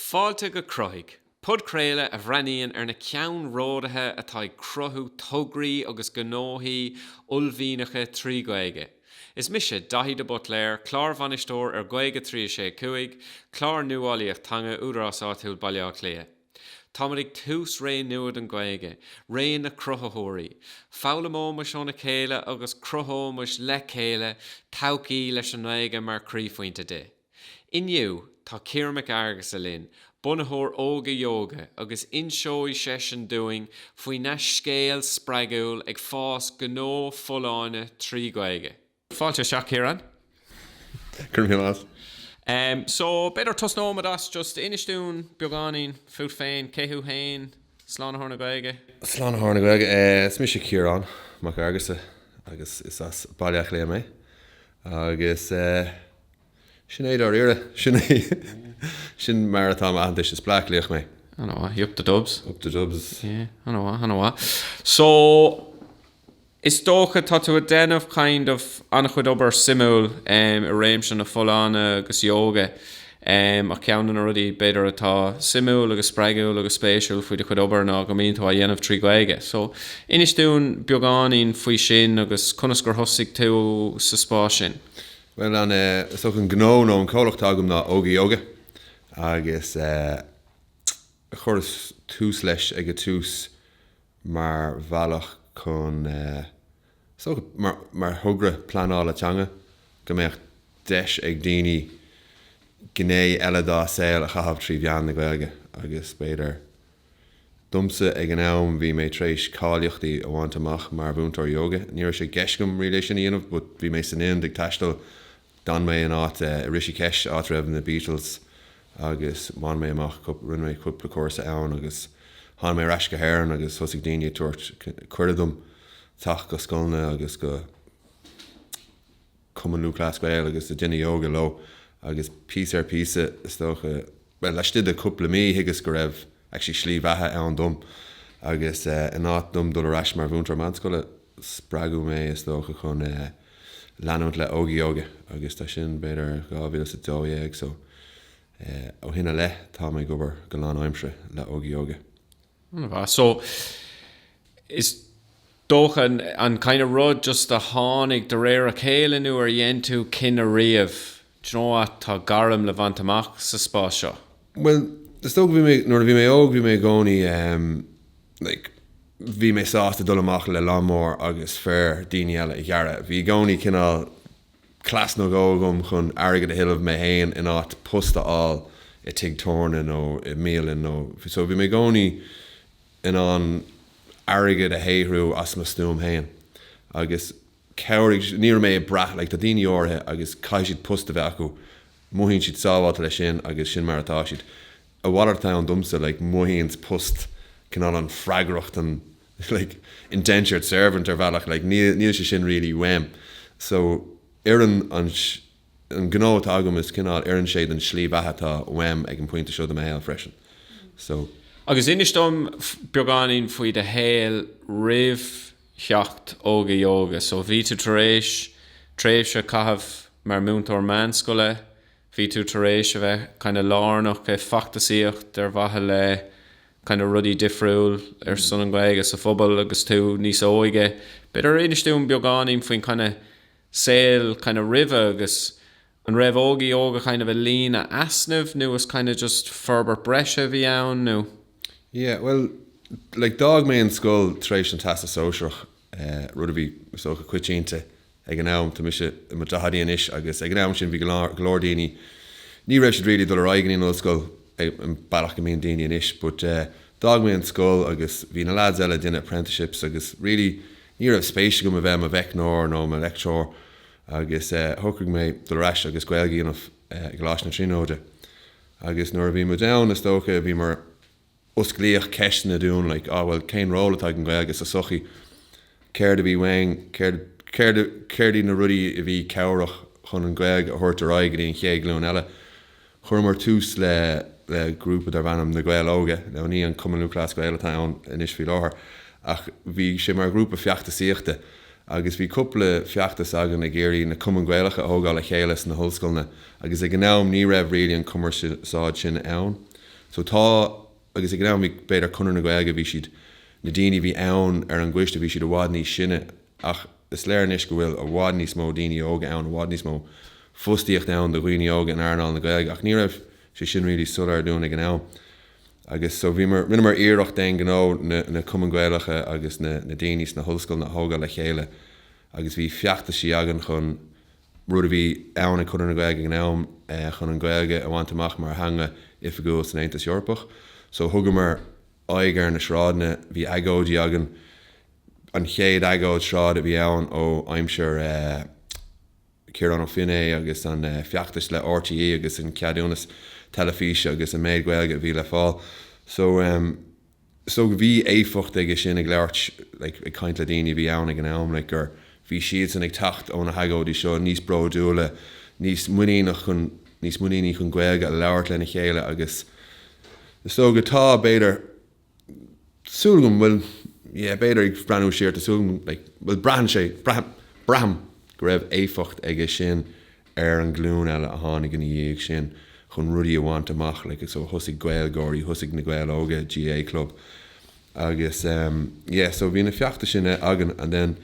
Fáilte go Cruthaigh, podchraoladh a bhreathnaíonn ar na ceannródaithe atá ag cruthú tograí agus gnóthaí uaillmhianacha trí Ghaeilge. Is mise Daithí de Butléir, Clár Bhainisteoir ar Ghaeilge 365, clár nuálaíochta teanga Údarás Áitiúil Bhaile Átha Cliath. Táimid ag tús ré nua don Ghaeilge, ré na cruthaitheoirí. Foghlaimeoimid óna chéile agus cruthóimid le chéile todhchaí leis an nGaeilge mar croíphointe di. Inniu, tá Ciarán Mac Fhearghusa linn, bunaitheoir Óga Yoga, agus inseoidh seisean dúinn faoina scéal spreagúil ag fás gnó folláine trí Ghaeilge. Fáilte isteach, Ciarán. Go raibh míle maith. Em, so, b'fhéidir tosnóimid as, just inis dúinn beagáinín fút féin, cé thú fhéin, Slánaitheoir na Gaeilge? Slánaitheoir na Gaeilge, eh, is mise Ciarán Mac Fhearghusa agus is as Baile Átha Cliath mé agus eh, sin é dáiríre, sin é, sin mar atá m'aitheantais, is Bleá Cliathach mé. Ana-mhaith, up the Dubs. Up the Dubs. Yeah, ana-mhaith, ana-mhaith. So. Is dócha, tá tú a' déanamh kind of an-chuid obair suimiúil em i réimse na folláine agus yoga em ach ceann de na rudaí b'fhéidir atá suimiúil agus spreagúil agus spéisiúil faoi do chuid obair ná go mbíonn tú á dhéanamh trí Ghaeilge so inis dúinn beagáinín faoi sin agus conas gur thosaigh tú sa spás sin? Bhuel an eh is dócha an gnó nó an comhlacht atá agam ná Óga Yoga agus eh chuireas tús leis ag a' tús mar bhealach chun so, mar thogra pleanála teanga, go mbeadh deis ag daoine gné eile dá saol a chaitheamh trí mheán na Gaeilge agus b'fhéidir, domsa ag an am bhí mé tar éis cáilíochtaí a bhaint amach mar mhúinteoir ióga, ní raibh sé i gceist agam riamh é sin a dhéanamh but bhí mé san Ind ag taisteal D'fhan mé in áit i Rishikesh, áit a raibh na Beatles agus bhain mé amach cup, rinne mé cúpla cúrsa ann agus thána mé ar ais go hÉireann agus thosaigh daoine ag tabhairt cuireadh dom teacht go scoileanna agus go Cumann Lúthchleas Gael agus ag déanamh yoga leo agus píosa ar phíosa is dócha, bhuel, laistigh de chúpla mí, thuigeas go raibh actually slí bheatha ann dom, agus in áit dom dul ar ais mar mhúinteoir meánscoile, spreagadh mé, is dócha, chun leanúint le Óga Yoga, agus tá sin b'fhéidir dhá mhíle is a dó dhéag, so ó shin i leith, tá mé ag obair go lánaimseartha le Óga Yoga. So, is dócha, an kind of rud just a tháinig de réir a chéile nó ar dhein tú cinneadh riamh, do you know what, tá gairm le bhaint amach sa spás seo? Bhuel, is dócha go bhí mé, nuair a bhí mé óg, bhí mé i gcónaí, like, bhí mé sásta dul amach le lawnmower agus féar daoine eile a ghearradh. Bhí i gcónaí cineál. cleas nó dhó agam chun airgead a thuilleamh mé fhéin in áit post a fháil i tigh tabhairne nó i mbialann nó so bhí mé i gcónaí in ann airgead a shaothrú as mo stuaim fhéin agus chabhraigh, ní raibh mé ag brath, like tá daoine áirithe agus caithfidh siad post a bheith acu, mothaíonn siad sábháilte leis sin agus sin mar atá siad. A mhalairt atá ann domsa, like mothaíonn post cineál an freagracht an. like, indentured servant ar bhealach, like, níl, níl sé sin really uaim. So, oireann an, an gnó atá agam is cineál, oireann sé don slí bheatha atá uaim ag an bpointe seo de mo shaol freisin. So. Agus inis dom beagáinín faoi do shaol roimh theacht Óga Yoga. So, bhí tú tar éis tréimhse a caitheamh mar múinteoir meánscoile, bhí tú tar éis a bheith kind of lárnach i feachtasaíocht ar mhaithe le kind of rudaí difriúil ar son an Ghaeilge sa phobal agus tú níos óige. B'fhéidir inis dúinn beagáinín faoin kind of saol kind of roimhe agus an raibh Óga Yoga kind of ag líonadh easnamh nó is kind of just forbairt breise a bhí ann nó? Yeah, bhuel, like d'fhág mé an scoil tar éis an Teastas Sóisearach, rud a bhí, is dócha, coitianta ag an am, tá mise i mo daicheadaí anois agus ag an am sin bhí go leor daoine, ní raibh siad really ag dul ar aghaidh go dtí an ollscoil an bealach go mbíonn daoine anois but d'fhág mé an scoil agus bhí na lads eile ag déanamh apprenticeships agus really ní raibh spéis agam a bheith i mo mheicneoir nó i mo leictreoir agus shocraigh mé dul ar ais agus Gaeilge a dhéanamh i gColáiste na Tríonóide agus nuair a bhí muid ann is dócha bhíomar Osclaíodh ceisteanna dúinn, like, ah bhuel, cén ról atá ag an Ghaeilge sa sochaí? Céard a bhí uainn? Céard, céard, céard iad na rudaí a bhí cabhrach chun an Ghaeilge a thabhairt ar aghaidh go dtí an chéad ghlúin eile? Chuireamar tús le, le grúpa darbh ainm Na Gaeil Óga, now ní an Cumann Lúthchleas Gael atá ann anois faoi láthair, ach bhí sé mar ghrúpa feachtasaíochta agus bhí cúpla feachtas againn ag iarraidh na Cumainn Gaelacha a thógáil le chéile sna hollscoileanna agus ag an am ní raibh really an cumarsáid sin ann. So tá, agus ag an am bhí b'fhéidir Conradh na Gaeilge, bhí siad, na daoine a bhí ann ar an gcoiste, bhí siad i bhfad níos sine ach is léir anois go bhfuil i bhfad níos mó daoine óga ann, i bhfad níos mó fostaíocht ann do dhaoine óga in earnáil na Gaeilge ach ní raibh sé sin really soiléir dúinn ag an am. Agus so bhíomar, rinneamar iarracht d'aon ghnó na, na Cumainn Gaelacha agus na, na daoine sna hollscoileanna a thógáil le chéile agus bhí feachtaisí againn chun, rud a bhí ann ag Conradh na Gaeilge ag an am, chun an Ghaeilge a bhaint amach mar theanga oifigiúil san Aontas Eorpach. So thugamar aghaidh ar na sráideanna, bhí agóidí againn, an chéad agóid sráide a bhí ann ó aimsir Ciarán Ó Feinneadha agus an feachtais le RTÉ agus an ceadúnas teilifíse agus an méid Gaeilge a bhí le fáil. So so bhí éifeacht aige sin ag labhairt like ag caint le daoine a bhí ann ag an am like go bhí siadsan ag teacht ó na hagóidí seo níos bródúla níos muiníneach chun níos muiníní chun Gaeilge a labhairt lena chéile agus is dóigh go tá b'fhéidir súil agam bhuel yeah b'fhéidir ag breathnú siar tá súil agam like bhfuil braitheann sé braithim braithim go raibh éifeacht aige sin ar an nglúin eile a tháinig ina dhiaidh sin chun rudaí a bhaint amach, like, so thosaigh Gaeilgeoirí, thosaigh Na Gaeil Óga, GAA club, agus ehm, yeah, so bhí na feachtais sin againn, and then,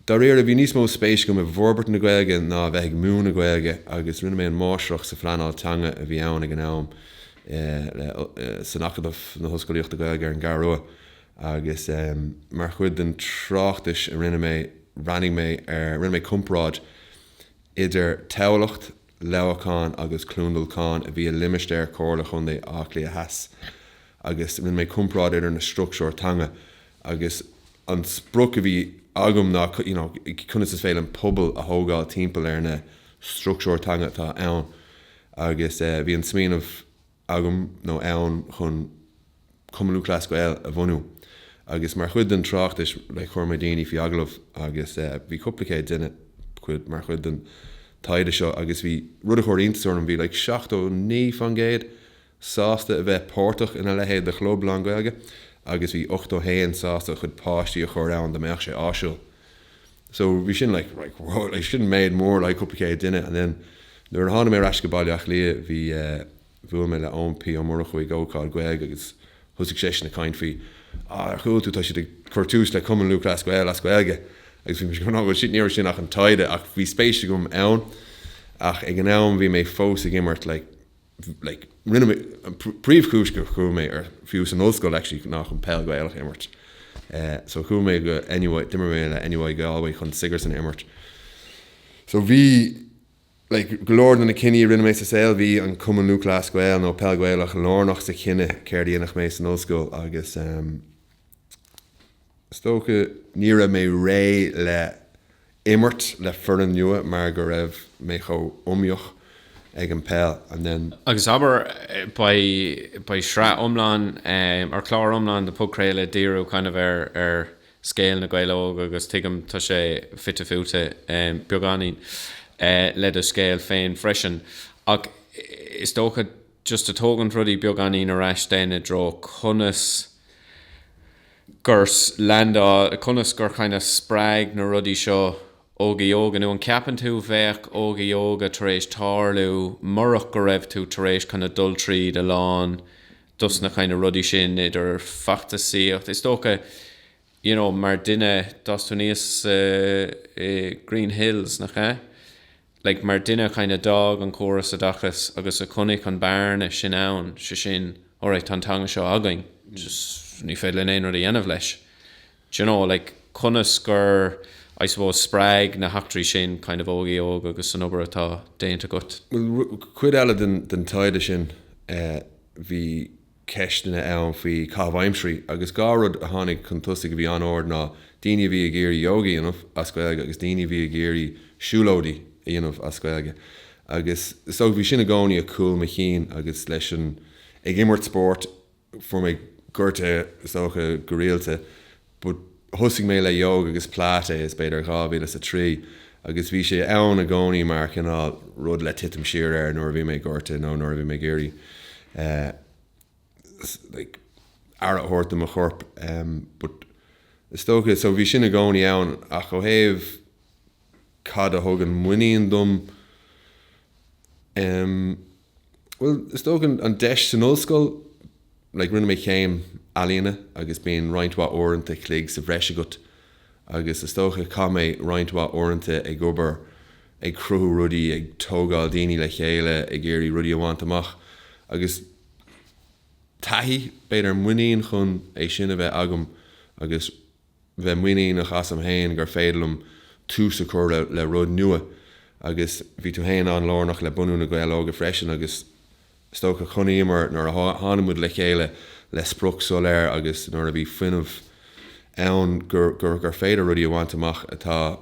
dáiríre, bhí níos mó spéis agam i bhforbairt na Gaeilge ná a bheith ag múineadh Gaeilge, agus rinne mé an Máistreacht sa Phleanáil Teanga a bhí ann ag an am, eh, le, eh, san Acadamh na hOllscolaíochta Gaeilge ar an gCeathrú Rua, agus ehm, mar chuid den tráchtas a rinne mé, bhreathnaigh mé ar, rinne mé comparáid idir Tamhlacht, Leamhacán agus Cluain Dolcáin a bhí i limistéar Chomhairle Contae Átha Cliath Theas agus rinne mé comparáid idir na structúir teanga agus an sprioc a bhí agam ná you know conas is féidir linn pobal a thógáil timpeall ar na structúir teanga atá ann agus bhí an smaoineamh agam nó ann chun Cumann Lúthchleas Gael a bhunú agus mar chuid den tráchtas like chuir mé daoine faoi agallamh agus eh bhí cúpla céad duine cuid mar chuid den taighde seo agus bhí rud a chuir iontas orm bhí like seachtó naoi faoin gcéad sásta a bheith páirteach ina leithéid de chlub lán Gaeilge agus bhí ochtó haon sásta a chuid páistí a chur ann dá mbeadh sé áisiúil. So bhí sin like like wow like sin méid mór like cúpla céad duine and then nuair a tháinig mé ar ais go Baile Átha Cliath bhí eh bhuail mé le Eoin P Ó Murchú ag ócáid Gaeilge agus thosaigh seisean ag caint faoi ah ar chuala tú tá siad ag cur tús le Cumann Lúthchleas Gael as Gaeilge agus bhí mise like bhuel shit ní raibh sin ach an taighde ach bhí spéis agam ann ach ag an am bhí mé fós ag imirt like like rinne mé, an príomhchúis gur chuaigh mé ar, fiú san ollscoil actually ná chun peil Ghaelach a imirt. Eh so chuaigh mé go NUI, d'imir mé le NUI Galway chun Sigerson a imirt. So bhí like go leor de na cinní a rinne mé sa saol, bhí an Cumann Lúthchleas Gael nó peil Ghaelach lárnach sa chinneadh céard a dhéanfadh mé san ollscoil agus ehm, Is dócha ní raibh mé réidh le imirt le foireann nua mar go raibh mé chomh iomaíoch ag an peil and then. Agus abair beidh sraith iomlán or clár iomlán de podchraoladh ag díriú kind of ar scéal Na Gaeil Óga agus tuigim tá sé fite fuaite beagáinín le do scéal féin freisin ach is dócha just a tógaint rudaí beagáinín ar ais then i dtreo conas gur leaindeáil, like, conas gur kind of spreag na rudaí seo Óga Yoga, nó an ceapann tú bheadh Óga Yoga tar éis tarlú murach go raibh tú tar éis kind of dul tríd a lán dos na kind of rudaí sin, idir feachtasaíocht, is dócha you know mar duine, d'fhás tú aníos i Green Hills, nach ea? like mar duine kind of d'fhág an córas oideachas agus a chonaic an bearna sin ann, so sin, alright, tá an teanga seo againn, just ní féidir linn aon rud a dhéanamh leis. D'you know, like conas gur, I suppose, spreag na heachtraí sin kind of Óga Yoga agus an obair atá déanta agat? Bhuel, cuid eile den taighde sin, bhí. ceisteanna ann faoi caitheamh aimsirí, agus dhá rud a tháinig chun tosaigh a bhí an-ard ná daoine a bhí ag iarraidh ióga a dhéanamh as Gaeilge agus daoine a bhí ag iarraidh siúlóidí a dhéanamh as Gaeilge. Agus so bhí sin i gcónaí ag cúl mo chinn agus leis an ag imirt spóirt fuair mé gortaithe is dócha go rialta, but thosaigh mé le yoga agus pilates b'fhéidir 2003 agus bhí sé ann i gcónaí mar chineál rud le titim siar air nuair a bhí mé gortaithe nó nuair a bhí mé ag iarraidh like aire a thabhairt do mo chorp but is dócha so bhí sin i gcónaí ann ach ó thaobh Cad a thugann muinín dom? Em. bhuel, is dócha an deis san ollscoil. Like, rinne mé céim ealaíona agus bíonn roinnt mhaith uaireanta chloig sa bhreis agat agus is dócha chaith mé roinnt mhaith uaireanta ag obair, ag cruthú rudaí, ag tógáil daoine le chéile, ag iarraidh rudaí a bhaint amach. Agus taithí, b'fhéidir muinín chun é sin a bheith agam agus. bheith muiníneach asam féin gur féidir liom tús a chur le rud nua agus bhí tú féin an-lárnach le bunú Na Gaeil Óga freisin agus is dócha chonaiceamar nuair a tháinig muid le chéile le sprioc soiléir agus nuair a bhí fuinneamh ann gur féidir rudaí a bhaint amach atá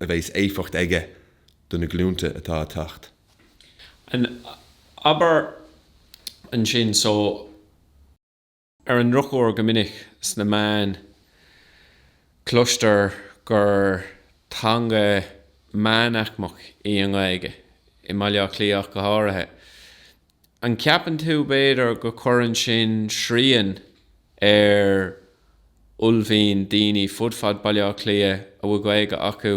a bheas éifeacht aige do na glúnta atá a theacht. Abair ansin, so. Ar an ndrochuair, go minic sna meáin cloistear gur teanga meánaicmeach í an Ghaeilge, i mBaile Átha Cliath ach go háirithe. An gceapann tú, b'fhéidir, go cuireann sin srian ar uaillmhian daoine fud fad Bhaile Átha Cliath a bhfuil Gaeilge acu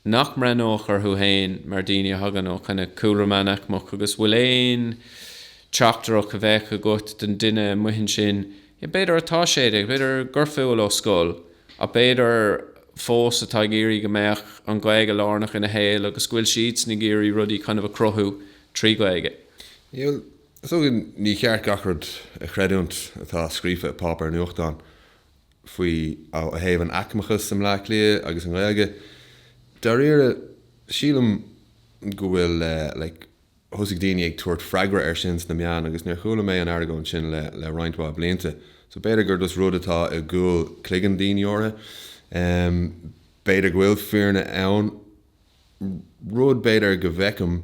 nach mbreathnódh orthu féin mar daoine a thagann ó chineál cúlra meánaicmeach agus bhfuil aon teachtaireacht a bheadh agat don duine amuigh ansin, b'fhéidir atá sé déag, b'fhéidir go bhfuil ó scoil, ach b'fhéidir fós atá ag iarraidh go mbeadh an Ghaeilge lárnach ina shaol agus go bhfuil siadsan ag iarraidh rudaí kind of a chruthú trí Ghaeilge. Níl, is dócha, ní ceart gach rud a chreidiúint atá scríofa i páipéar nuachtáin faoi ó thaobh an aicmeachas i mBleá Cliath agus an Ghaeilge. Dáiríre, sílim go bhfuil like thosaigh daoine ag tabhairt freagra air sin sna meáin agus níor chuala mé an argóint sin le roinnt mhaith blianta. So b'fhéidir gur just rud atá i gcúl cloigeann daoine áirithe. B'fhéidir go bhfuil fírinne ann. Rud b'fhéidir go bhfeicim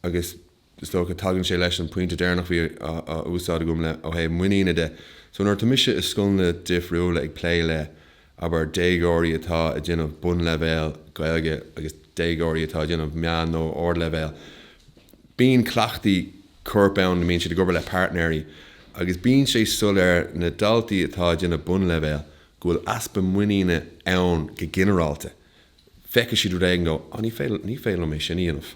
agus. is dócha, tagann sé leis an pointe deireanach a bhí á úsáid agam le ó thaobh muiníne de. So, nuair atá mise i scoileanna difriúla ag plé le, abair, déagóirí atá ag déanamh bunleibhéal Gaeilge agus déagóirí atá ag déanamh meán nó ardleibhéal, bíonn cleachtaí coirp ann ina mbíonn siad ag obair le páirtnéirí agus bíonn sé soiléir na daltaí atá ag déanamh bunleibhéal go bhfuil easpa muiníne ann go ginearálta. feicfidh siad rud éigin go, oh, ní féidir, ní féidir liom é sin a dhéanamh.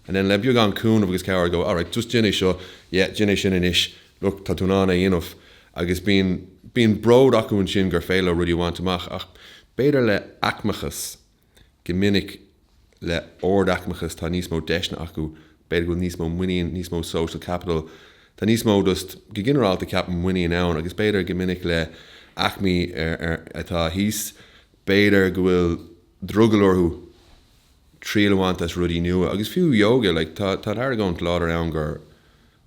And then le beagán cúnamh agus cabhair go, alright, just déan é seo, yeah, déan é sin anois, look, tá tú in ann é a dhéanamh. Agus bíonn, bíonn bród acu ansin gur féidir leo rudaí a bhaint amach. Ach b'fhéidir le aicmeachas, go minic le ardaicmeachas tá níos mó deiseanna acu, b'fhéidir go bhfuil níos mó muinín, níos mó social capital, tá níos mó just, go ginearálta ceapaim muinín ann agus b'fhéidir go minic le aicmí atá thíos, b'fhéidir go bhfuil drogall orthu triail a bhaint as rudaí nua, agus fiú yoga, like, tá argóint láidir ann gur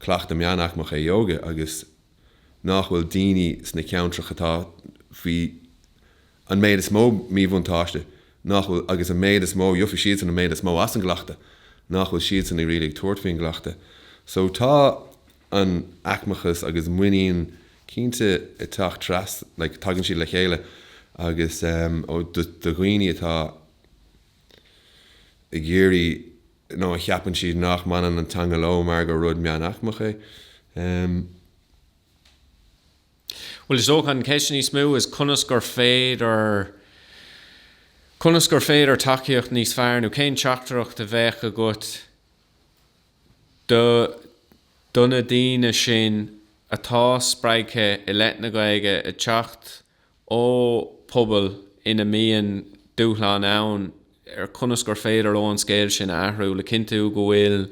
cleachtadh meánaicmeach é yoga agus nách bhfuil daoine sna ceantracha atá faoi an méid is mó míbhuntáiste, nách bhfuil, agus an méid is mó, gheofaidh siadsan an méid is mó as an gcleachtadh, nách bhfuil siadsan ag really ag tabhairt faoin gcleachtadh. So tá. an aicmeachas agus muinín cinnte ag teacht trasna, like tagann siad le chéile agus ehm do dhaoine atá ag iarraidh nó a cheapann siad nach mbaineann an teanga leo mar gur rud meánaicmeach é ehm. Bhuel is dócha an cheist níos mó is conas gur féidir, conas gur féidir tacaíocht níos fearr nó cén teachtaireacht a bheadh agat, Do do na daoine sin atá spreagtha i leith na Gaeilge ag teacht ó pobal ina mbíonn dúshláin ann ar chonas gur féidir leo an scéal sin a athrú le cinntiú go bhfuil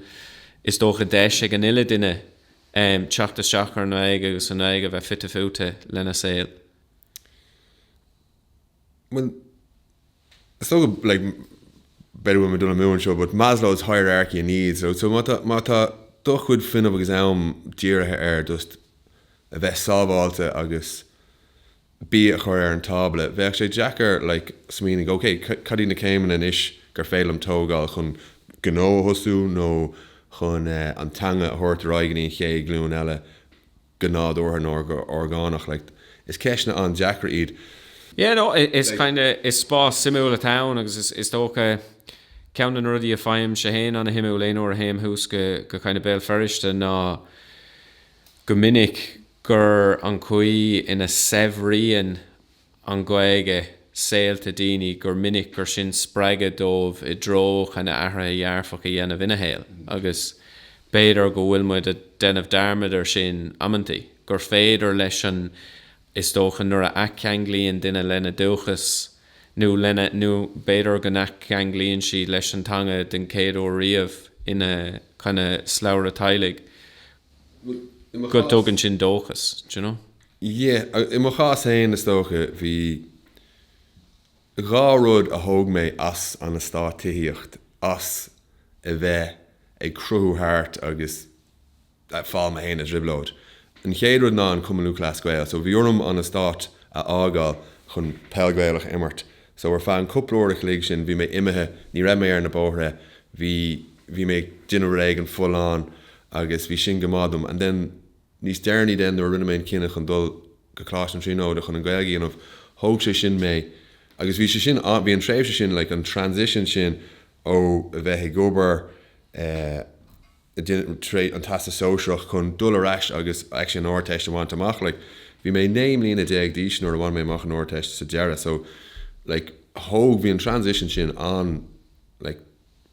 is dócha deis ag an uile duine teacht isteach ar an nGaeilge agus an Ghaeilge a bheith fite fuaite lena saol. bhuel, is dócha, like, b'fhéidir go bhfuil mé ag dul amú anseo, but Maslow's hierarchy of needs, right? So má tá, má tá do chuid fuinnimh agus am dírithe ar just a bheith sábháilte agus bia a chur ar an tábla, bheadh sé deacair, like, smaoineamh, ok, cad iad na céimeanna anois gur féidir liom tógáil chun gnó a thosú nó chun, eh, an teanga a thabhairt ar aghaidh go dtí an chéad ghlúin eile. go nádúrtha nó go orgánach like is ceisteanna an-deacra iad. Yeah no is like. kinda is spás suimiúil atá ann agus is is dócha ceann de na rudaí a fhaighimse féin an-shuimiúil aon uair a théim thuas go go kinda Béal Feirste ná go minic gur an chaoi ina saibhríonn an Ghaeilge saolta daoine gur minic gur sin spreagadh dóibh i dtreo kinda athruithe dearfacha a dhéanamh ina shaol agus b'fhéidir go bhfuil muid a' déanamh dearmad ar sin amantaí, gur féidir leis an is dócha nuair a athcheanglaíonn duine lena dúchas nó lena, nó b'fhéidir go n-athcheanglaíonn siad leis an teanga den chéad uair riamh ina kinda slabhra teaghlaigh, go dtugann sin dóchas, d'you know. Yeah, i mo chás féin is dócha, bhí dhá rud a thóg mé as an eastát tithíocht, as a bheith ag crochadh thart agus a' fáil mé fhéin i dtrioblóid. An chéad rud ná an Cumann Lúthchleas Gael, so bhí orm an eastát a fhágáil chun peil Gaelach a imirt. So ar feadh an cúpla uair a chloig sin bhí mé imithe, ní raibh mé ar na bóithre, bhí, bhí mé ag déanamh rud éigin folláin agus bhí sin go maith dom and then, Níos deireanaí then, nuair a rinne mé an cinneadh chun dul go Coláiste na Tríonóide chun an Ghaeilge a dhéanamh, thóg sé sin mé agus bhí sé sin, bhí an tréimhse sin, like an transition sin ó a bheith ag obair, tar éis an Teastas Sóisearach chun dul ar ais agus actually an Ardteist a bhaint amach, like bhí mé naoi mbliana déag d'aois nuair a bhain mé amach an Ardteist sa deireadh, so like thóg, bhí an transition sin an-, like.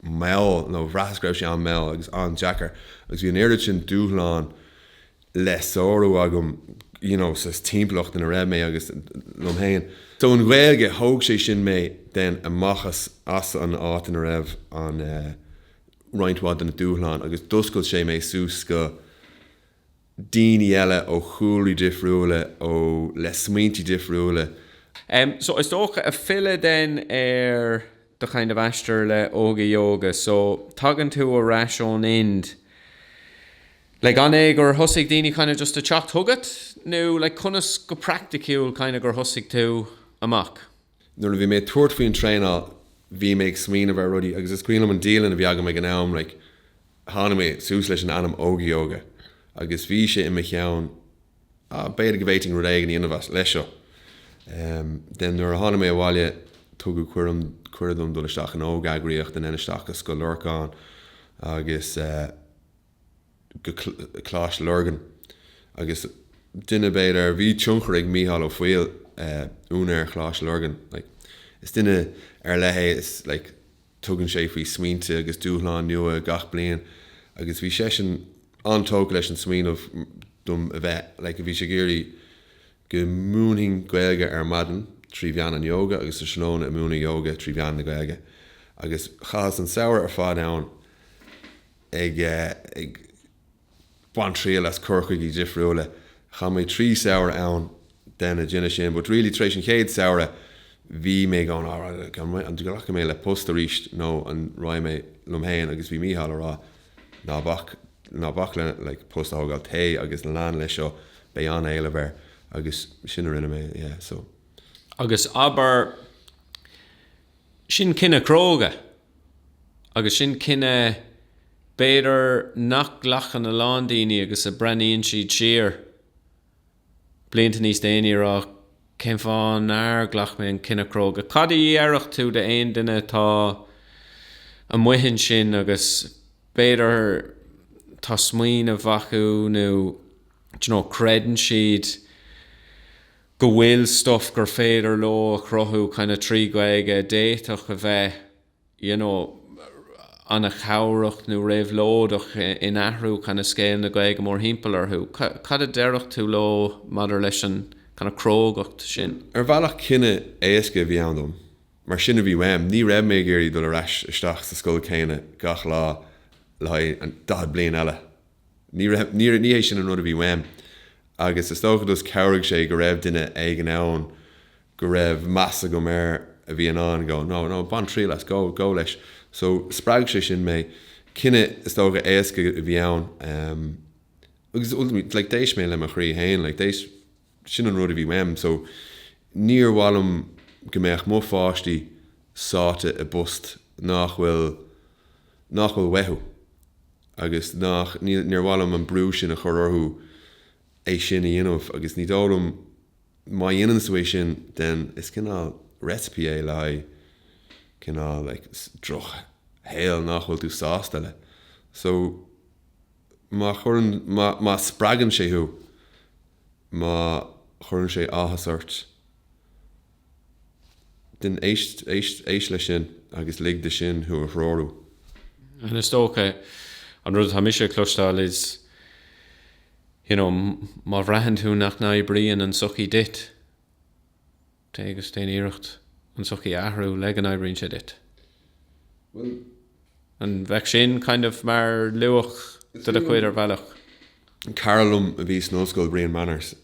mall, nó bhraitheas go raibh sé an-mhall agus an-deacair, agus bhí an oiread sin dúshlán le sárú agam you know sa timpeallacht ina raibh mé agus liom féin. So an Ghaeilge, thóg sé sin mé then amach as as an áit ina raibh an eh roinnt mhaith de na dúshláin agus d'oscail sé mé suas go, daoine eile ó chúlraí difriúla, ó, le smaointí difriúla. Em, so, is dócha, ag filleadh then ar do kind of aistear le Óga Yoga, so, tagann tú ar ais ón Ind, like, an é gur thosaigh daoine kind of just ag teacht chugat, nó like conas go praiticiúil kind of gur thosaigh tú amach? nuair a bhí mé ag tabhairt faoin traenáil bhí mé ag smaoineamh ar rudaí agus is cuimhin liom an dialann a bhí agam ag an am like tháinig mé suas leis an ainm Óga Yoga agus bhí sé i mo cheann ah b'fhéidir go bhféadfainn rud éigin a dhéanamh as, leis seo em then nuair a tháinig mé abhaile tugadh cuireadh dom dul isteach in óg-eagraíocht and then isteach go Scoil Lorcáin agus eh. go Coláiste Lurgan agus duine, b'fhéidir, bhí tionchar ag Mícheál Ó Foighil, úinéir Choláiste Lurgan, like, is duine ar leith é, is like tugann sé faoi smaointe agus dúshláin nua gach bliain agus bhí seisean an-tógtha leis an smaoineamh dom a bheith, like bhí sé ag iarraidh go múinfinn Gaeilge ar maidin trí mheán an yoga agus sa tráthnóna ag múineadh yoga trí mheán na Gaeilge agus chaitheas an samhradh ar fad ann Ag baint triail as cur chuigí difriúla, chaith mé trí samhradh ann á dhéanamh sin, but really tar éis an chéad samhradh bhí mé going an nglacfaidh mé le post arís nó an raghaidh mé liom féin agus bhí Mícheál a rá ná bac, ná bac le like post a thógáil, téigh agus lean leis seo, beidh an-éileamh air agus sin a rinne mé yeah so. Agus abair, Sin cinneadh cróga. Agus sin cinneadh, b'fhéidir, nach nglacann a lán daoine agus a bhreathnaíonn siad siar blianta níos déanaí a rá, cén fáth nár ghlac mé an cinneadh cróga? Cad a déarfadh tú d'aon duine atá amuigh ansin agus b'fhéidir tá smaoineamh acu nó, do you know, creideann siad go bhfuil stuff gur féidir leo a chruthú kind of trí Ghaeilge a d'fhéadfadh a bheith you know an-chabhrach nó réabhlóideach in athrú kind of scéal na Gaeilge mórthimpeall orthu. Cad a déarfadh tú leo maidir leis an kind of crógacht sin? Ar bhealach cinneadh éasca a bhí ann dom, mar sin a bhí uaim, ní raibh mé ag iarraidh dul ar ais isteach sa scoil chéanna gach lá le haghaidh an daichead bliain eile. Ní raibh, ní, ní hé sin an rud a bhí uaim. Agus is dócha gur chabhraigh sé go raibh duine éigin ann go raibh meas agam air a bhí in ann go, no, no, bain triail as, go, go leis. So, spreag sé sin mé. Cinneadh is dócha éasca a bhí ann. Agus, ultimately, like, d'éist mé le mo chroí fhéin, like, d'éist, Sin an rud a bhí uaim so níor mhaith liom go mbeadh mo pháistí sáite i bpost nach bhfuil, nach bhfuil uathu agus nach, níl, níor mhaith liom an brú sin a chur orthu é sin a dhéanamh agus ní dóigh liom, má dhéananns tú é sin then is cineál recipe é le haghaidh cineál like droch shaol nach bhfuil tú sásta leis. So. má chuireann, má spreagann sé thú, má chuireann sé áthas ort, then éist, éist leis sin agus lig dó sin thú a threorú. And is dócha, an rud atá mise ag cloisteáil is, you know, má bhraitheann tú nach n-oibríonn an sochaí duit, Téigh agus déan iarracht an sochaí a athrú le go n-oibríonn sé duit. Bhuel, an bheadh sin kind of mar luach de do chuid ar bhealach? Cara liom a bhí san ollscoil, Brian Manners,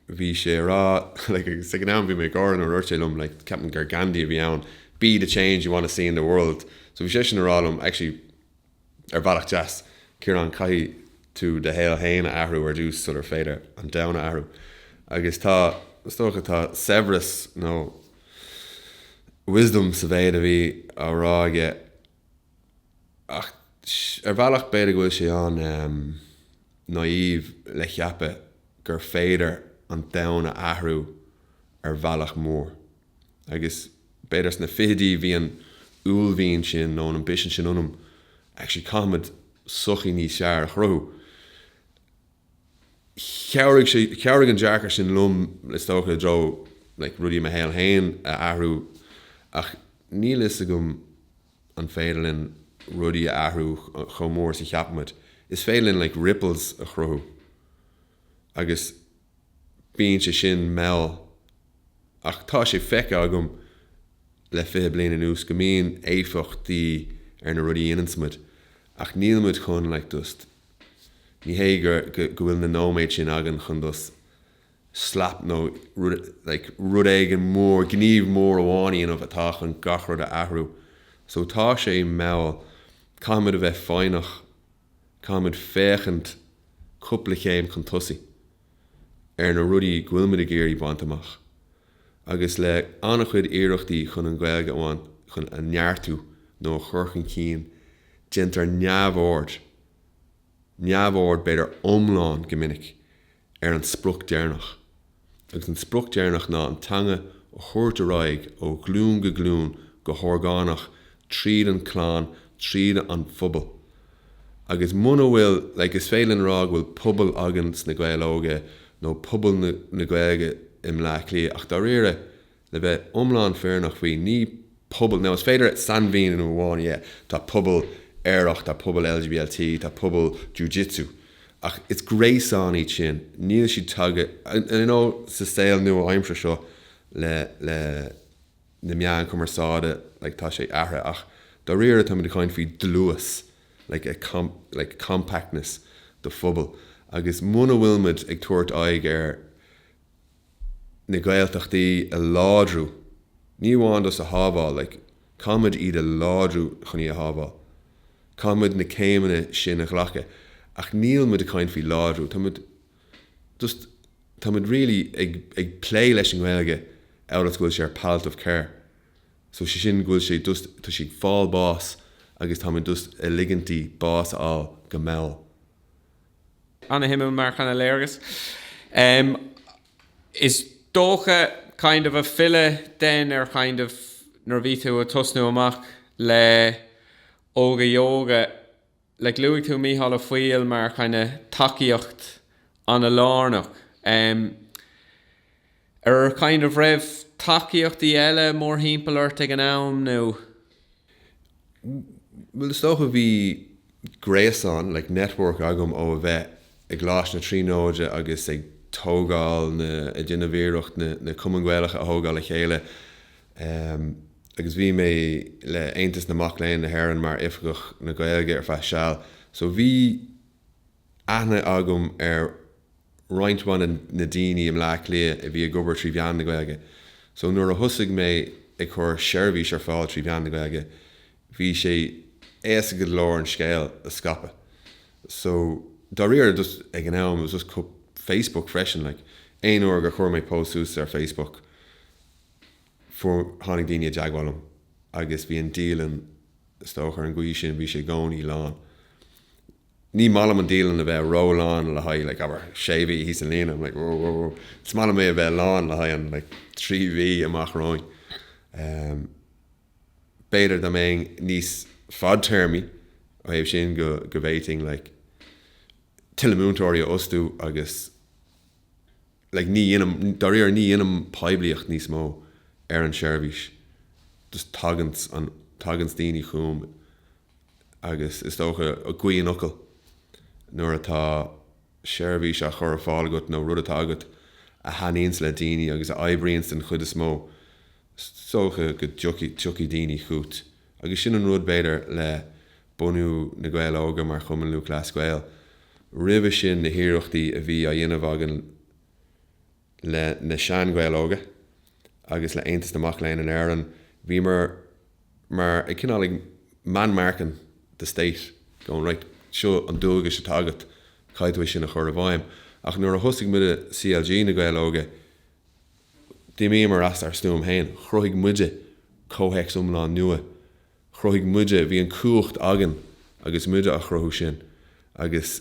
bhí sé ag rá like agus ag an am bhí mé ag gáire nuair a dúirt sé liom like ceapaim gur Gandhi a bhí ann, 'Be the change you wanna see in the world'. So bhí seisean ag rá liom actually, Ar bhealach deas, Ciarán, caithfidh tú do shaol féin a athrú ar dtús sular féidir an domhan a athrú. Agus tá, is dócha, tá saibhreas nó wisdom sa mhéid a bhí á rá aige. Ach ar bhealach, b'fhéidir go bhfuil sé an-naive le ceapadh gur féidir an domhan a athrú ar bhealach mór. agus b'fhéidir sna fichidí bhí an uaillmhian sin nó an ambition sin ionam, actually caithfimid sochaí níos fearr a chruthú. Chabhraigh sé, chabhraigh an dearcadh sin liom le is dócha i dtreo like rudaí i mo shaol féin a athrú ach níl fhios agam an féidir linn rudaí a athrú chomh mór is a cheapaimid. Is féidir linn like ripples a chruthú agus. Bíonn sé sin mall, ach tá sé feicthe agam le fiche bliain anuas go mbíonn éifeachtaí ar na rudaí a dhéananns muid, ach níl muid chun like just. Ní hé gur go bhfuil na nóiméid sin againn chun just slap nó like rud éigin mór, gníomh mór amháin a dhéanamh atá chun gach rud a athrú. So tá sé mall, caithfidh muid a bheith foighneach. Caithfimid féachaint cúpla chéim chun tosaigh ar na rudaí go bhfuilmid ag iarraidh a bhaint amach, agus le an-chuid iarrachtaí chun an Ghaeilge amháin chun a neartú nó a chur chun cinn, déantar neamhaird, neamhaird b'fhéidir iomlán go minic, ar an sprioc deireanach, agus an sprioc deireanach ná an teanga a thabhairt ar aghaidh ó ghlúin go glúin go horgánach tríd an clann, tríd an phobal. Agus muna bhfuil, like, is féidir linn a rá go bhfuil pobal againn sna Gaeil Óga nó pobal na Gaeilge i mBleá Cliath, ach dáiríre, Le bheith iomlán fírinneach faoi, ní pobal, now is féidir sainmhíniú amháin, yeah tá pobal aerach, tá pobal LGBT, tá pobal Jiu-Jitsu, ach is gréasáin iad sin, níl siad tagtha, you know sa saol nua-aimseartha seo le le na meáin chumarsáide like tá sé athraithe ach dáiríre tá muid ag caint faoi dlús like compactness de phobal agus muna bhfuil muid ag tabhairt aghaidh ar na Gaeltachtaí a láidriú, ní amháin just a shábháil, like, caithfidh muid iad a láidriú chun í a shábháil. Caithfidh muid na céimeanna sin a ghlacadh. Ach níl muid ag caint faoi láidriú, tá muid just, tá muid really ag, ag plé leis an nGaeilge amhail is go bhfuil sé ar palliative care. So sé sin go bhfuil sé just, tá sí ag fáil báis agus tá muid just a ligint di bás a fháil go mall. An-suimiúil mar kind of léargas. Is dócha kind of ag filleadh then ar kind of nuair a bhí tú a' tosnú amach le Óga Yoga, like luaigh tú Mícheál Ó Foighil mar kind of tacaíocht an-lárnach. Ar kind of raibh tacaíochtaí eile mórthimpeall ort ag an am nó? Bhuel, is dócha bhí gréasán, like, network agam ó a bheith i gColáiste na Tríonóide agus ag tógáil na, ag déanamh iarracht na, na Cumainn Gaelacha a thógáil le chéile ehm agus bhí mé le Aontas na Mac Léinn na hÉireann mar Oifigeach na Gaeilge ar feadh seal so bhí aithne agam ar roinnt mhaith de na daoine i mBleá Cliath a bhí ag obair trí mheán na Gaeilge so nuair a thosaigh mé ag cur seirbhís ar fáil trí mheán na Gaeilge bhí sé éasca go leor an scéal a scaipeadh so dáiríre just ag an am it was just Facebook freisin like aon uair gur chuir mé post suas ar Facebook fuair tháinig daoine i dteagmháil liom agus bhí an dialann is dócha ar an gcaoi sin bhí sé i gcónaí lán Ní maith liom an dialann a bheith ró-lán le haghaidh like abair sé mhí thíos an líne I'm like whoa is maith liom é a bheith lán le haghaidh an like trí mhí amach romhainn em b'fhéidir dá mbeinn níos fadtéarmaí ó thaobh sin go bhféadfainn like tuilleadh múinteoirí a fhostú agus like ní dhéanaim dáiríre ní dhéanaim poiblíocht níos mó ar an seirbhís just taganns an taganns daoine chugam agus is dócha i gcroí an fhocail, nuair atá seirbhís á chur ar fáil agat nó rud atá agat a thaitníonns le daoine agus a oibríonns den chuid is mó, is dócha go dtiocfaidh daoine chugat. Agus sin an rud, b'fhéidir, le bunú Na Gaeil Óga mar Chumann Lúthchleas Gael. Roimhe sin, na hiarrachtaí a bhí á dhéanamh againn le Na Sean-Ghaeil Óga agus le Aontas na Mac Léinn in Éirinn, bhí mar mar ag cineál ag man marking the state, going right, seo an dualgas atá agat, caithfidh tú é sin a chur i bhfeidhm. Ach nuair a thosaigh muide, CLG Na Gaeil Óga, d'imíomar as ár stuaim féin. Chruthaigh muide comhthéacs iomlán nua. Chruthaigh muide, bhí an cumhacht againn agus muide á chruthú sin agus.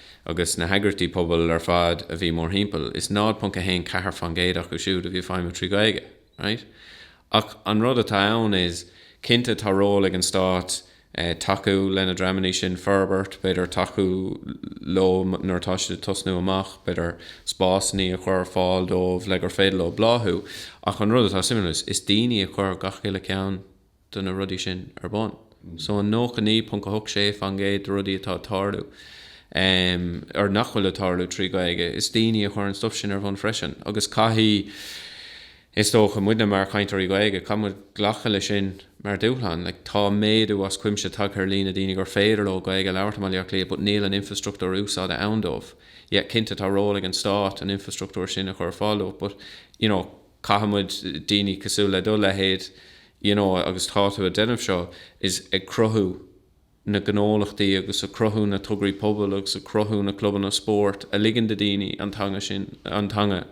agus na heagraíochtaí pobail ar fad a bhí mórthimpeall, is 0.14% acu siúd a bhí ag feidhmiú trí Ghaeilge. Right? Ach an rud atá ann is, cinnte tá ról ag an Stát tacú le na dreamanna sin, forbairt, b'fhéidir tacú leo nuair atá siad ag tosnú amach, b'fhéidir spásanna a chur ar fáil dóibh le gur féidir leo bláthú, ach an rud atá suimiúil is, is daoine a chuir gach uile ceann. de na rudaí sin ar bun. So an 99.86 faoin gcéad de rudaí atá ag tarlú, or nach bhfuil ag tarlú trí Ghaeilge, is daoine a chuir an stuff sin ar bun freisin. Agus caithfidh, is dócha, muide mar chainteoirí Gaeilge, caithfidh muid glacadh le sin mar dúshlán. Like, tá méadú as cuimse tagtha ar líon na daoine gur féidir leo Gaeilge a labhairt i mBaile Átha Cliath but níl an infrastruchtúr úsáide ann dóibh. Yeah, cinnte tá ról ag an stát an infrastruchtúr sin a chur ar fáil dóibh but, you know, caithfimid, daoine cosúil le do leithéid, you know agus tá tú a' déanamh seo, is ag cruthú na gnólachtaí agus a' cruthú na tograí pobail agus a' cruthú na clubanna spóirt a ligeann do daoine an teanga sin, an teanga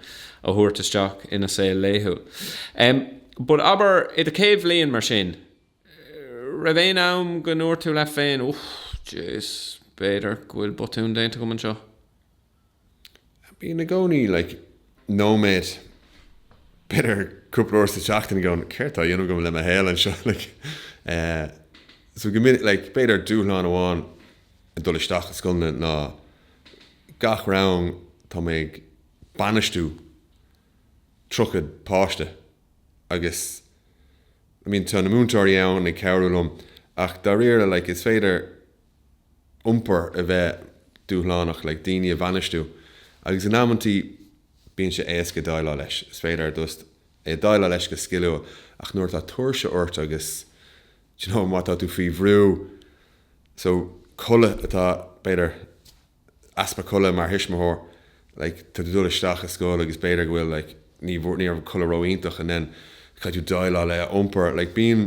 a thabhairt isteach ina saol laethúil. Em but abair, i do chéad bhliain mar sin, raibh aon am go ndúirt tú leat féin, uch, jeez, b'fhéidir go bhfuil botún déanta agam anseo? Bíonn i gcónaí like nóiméad, b'fhéidir cúpla uair sa tseachtain go, céard atá á dhéanamh agam le mo shaol anseo like eh so go minic like b'fhéidir dúshlán amháin ag dul isteach i scoileanna ná gach rang tá mé ag bainistiú tríocha páiste agus I mean tá na múinteoirí ann ag cabhrú liom ach dáiríre like is féidir iompar a bheith dúshlánach like daoine a bhainistiú agus in amanntaí bíonn sé éasca déileáil leis, is féidir just déileáil leis go sciliúil ach nuair atá tuirse ort agus d'you know má tá tú faoi bhrú so codladh atá b'fhéidir. easpa codlata mar thuismitheoir like tá tú ag dul isteach ar scoil agus b'fhéidir go bhfuil like ní bhfuair ní raibh codladh ró-iontach and then caithfidh tú déileáil le iompar like bíonn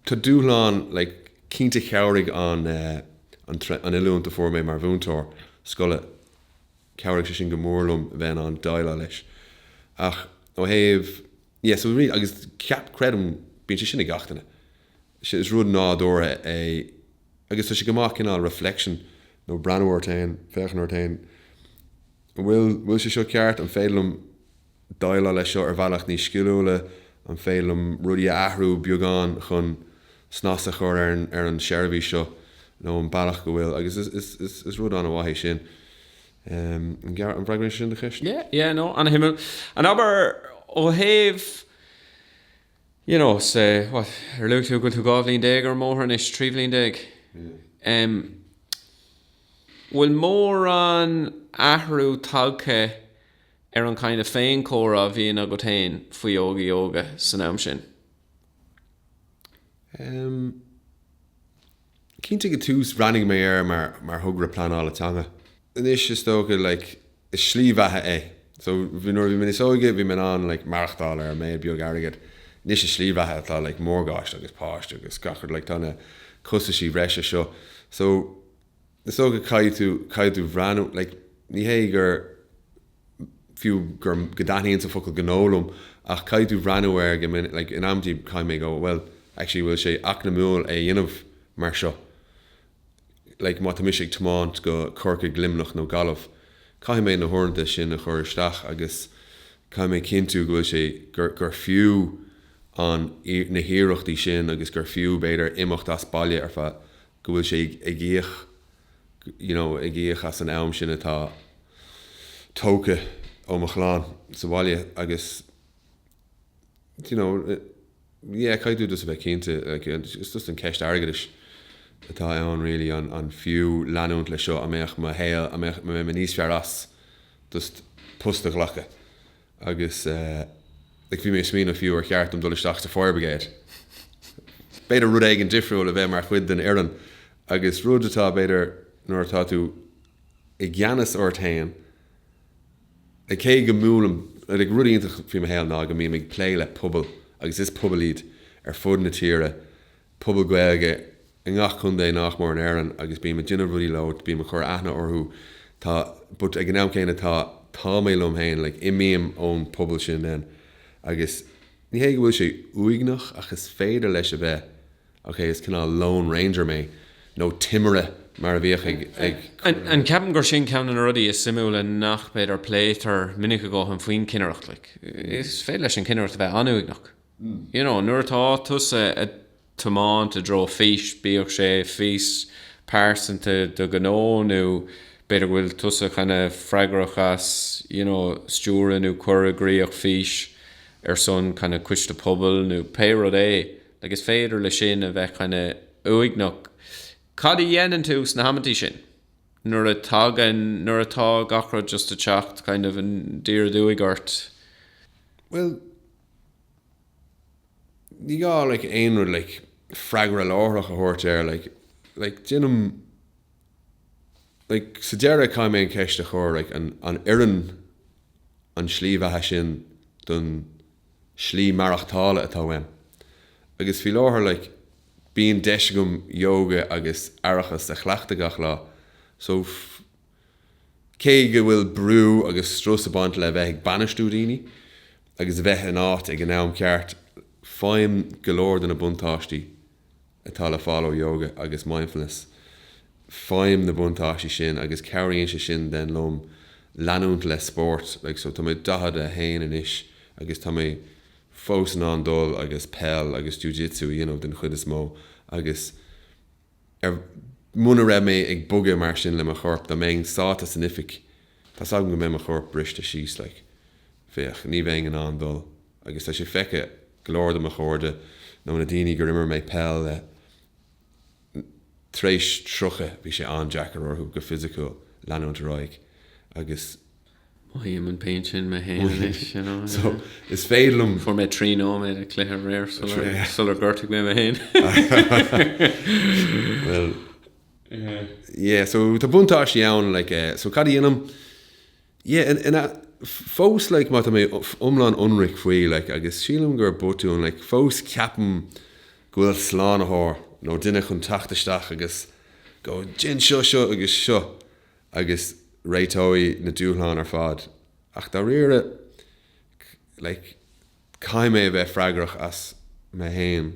tá dúshlán like cinnte chabhraigh an an an oiliúint a fuair mé mar mhúinteoir scoile chabhraigh sé sin go mór liom bheith in ann déileáil leis ach ó thaobh yeah so really agus ceap creidim bíonn sé sin ag gach duine Sea, is rud nádúrtha é agus tá sé go maith cineál reflection nó breathnú ort féin, féachaint ort féin, an bhfuil, bhfuil sé seo ceart, an féidir liom déileáil leis seo ar bhealach níos sciliúla, an féidir liom rudaí a athrú beagán chun snas a chur ar an, ar an seirbhís seo nó an bealach go bhfuil, agus is, is, is, is rud an-mhaith é sin. An bhfreagraíonn sé sin do cheist? Yeah, yeah, no, an-shuimiúil abair ó thaobh. you know say what ar luaigh tú go bhfuil tú dhá bhliain déag ar an mbóthar anois trí bhliain déag em bhfuil mórán athrú tagtha ar an kind of féin comhrá a bhíonn agat féin faoi Óga Yoga san am sin? em. Cinnte ag an tús bhreathnaigh mé air mar mar thogra pleanála teanga. Anois is dócha like is slí bheatha é. So nuair a bhí mé níos óige bhí mé in ann like maireachtáil ar an méid beag airgead. Anois is slí bheatha atá like morgáiste agus páiste agus gach rud like tá na costaisí breise seo. So is dócha caithfidh tú caithfidh tú breathnú like ní hé gur fiú gur, go dtaitníonns an focal gnó liom, ach caithfidh tú breathnú air go minic, like, in amantaí caithfidh mé dul, bhuel, actually, bhfuil sé eacnamúil é a dhéanamh mar seo? Like, má tá mise ag tiomáint go Corcaigh, Luimneach nó Gaillimh, caithfidh mé na huaireanta sin a chur isteach agus caithfidh mé cinntiú go bhfuil sé, gur, gur fiú an, na hiarrachtaí sin agus gur fiú, b'fhéidir, imeacht as baile ar feadh, go bhfuil sé ag, ag íoc. you know, ag íoc as an am sin atá tógtha ó mo chlann sa bhaile agus you know, yeah, caithfidh tú just a bheith cinnte, like, it's just an ceist airgeadais atá ann really, an an fiú leanúint leis seo, an mbeadh mo shaol, an mbeadh, an mbeidh mé níos fearr as just post a ghlacadh? Agus like bhí mé ag smaoineamh fiú ar cheart dom dul isteach sa fire brigade. B'fhéidir rud éigin difriúil a bheith mar chuid den fhoireann agus rud atá b'fhéidir nuair atá tú i gceannas ort féin, like cé go mbuailim, like rud iontach faoi mo shaol ná go mbím ag plé le pobal agus is pobal iad ar fud na tíre pobail Ghaeilge i ngach contae nach mór in Éirinn agus bím ag déanamh rudaí leo, bím ag cur aithne orthu tá but ag an am céanna tá tá mé liom féin like imím ón pobal sin then agus ní hé go bhfuil sé uaigneach ach is féidir leis a bheith okay is cineál lone ranger mé nó timire mar a bhíodh ag an ceapaim gur sin ceann de na rudaí is suimiúla nach b'fhéidir pléitear minic a dhóthain faoin cinnireacht like is féidir leis an cinnireacht a bheith an-uaigneach. you know nuair atá tusa a tiomáint i dtreo fís, bíodh sé fís pearsanta do ghnó nó b'fhéidir go bhfuil tusa kind of freagrach as you know stiúradh nó cur i gcríoch fís ar son kind of coiste pobail nó pé rud é like is féidir le sin a bheith kind of uaigneach. Cad a dhéanann tú sna hamantaí sin nuair a tagann, nuair atá gach rud just a teacht kind of ina dhiaidh duit ort? Bhuel, ní gá like aon rud like freagra láithreach a thabhairt air like like déanaim like sa deireadh caithfidh mé an cheist a chur like an oireann an tslí bheatha sin don slí maireachtála atá uaim agus faoi láthair like bíonn deis agam yoga agus aireachas a chleachtadh gach lá so Cé go bhfuil brú agus strus ag baint le bheith ag bainistiú daoine agus bheith in áit ag an am ceart, faighim go leor de na buntáistí atá le fáil ó Yoga agus Mindfulness. Faighim na buntáistí sin agus cabhraíonn sé sin den liom leanúint le spórt. Like so tá mé 41 anois agus tá mé fós in ann dul agus peil agus Jiu Jitsu a dhéanamh den chuid is mó agus. ar, muna raibh mé ag bogadh mar sin le mo chorp, dá mbeinn sáite san oifig, tá's agam go mbeidh mo chorp briste síos, like, féach, ní bheinn in ann dul, agus tá sé feicthe go leor de mo chairde nó na daoine gur imir mé peil le, tar éis tríocha, bhí sé an-deacair orthu, go fisiciúil, leanúint ar aghaidh, agus. Mothaím an pain sin mé féin anois, you know. So, is féidir liom. Fuair mé trí nóiméad ag cluiche aréir sular gortaigh mé mé féin. Well, yeah, so tá buntáistí ann, like, eh, so cad a dhéanaim? Yeah, ina, fós, like, má tá mé iomlán ionraic faoi, like, agus sílim gur botún, like, fós ceapaim go bhfuil slánaitheoir nó duine chun teacht isteach agus go, déan seo, seo agus seo. agus réiteoidh na dúshláin ar fad, ach dáiríre, like, caithfidh mé a bheith freagrach as mé féin,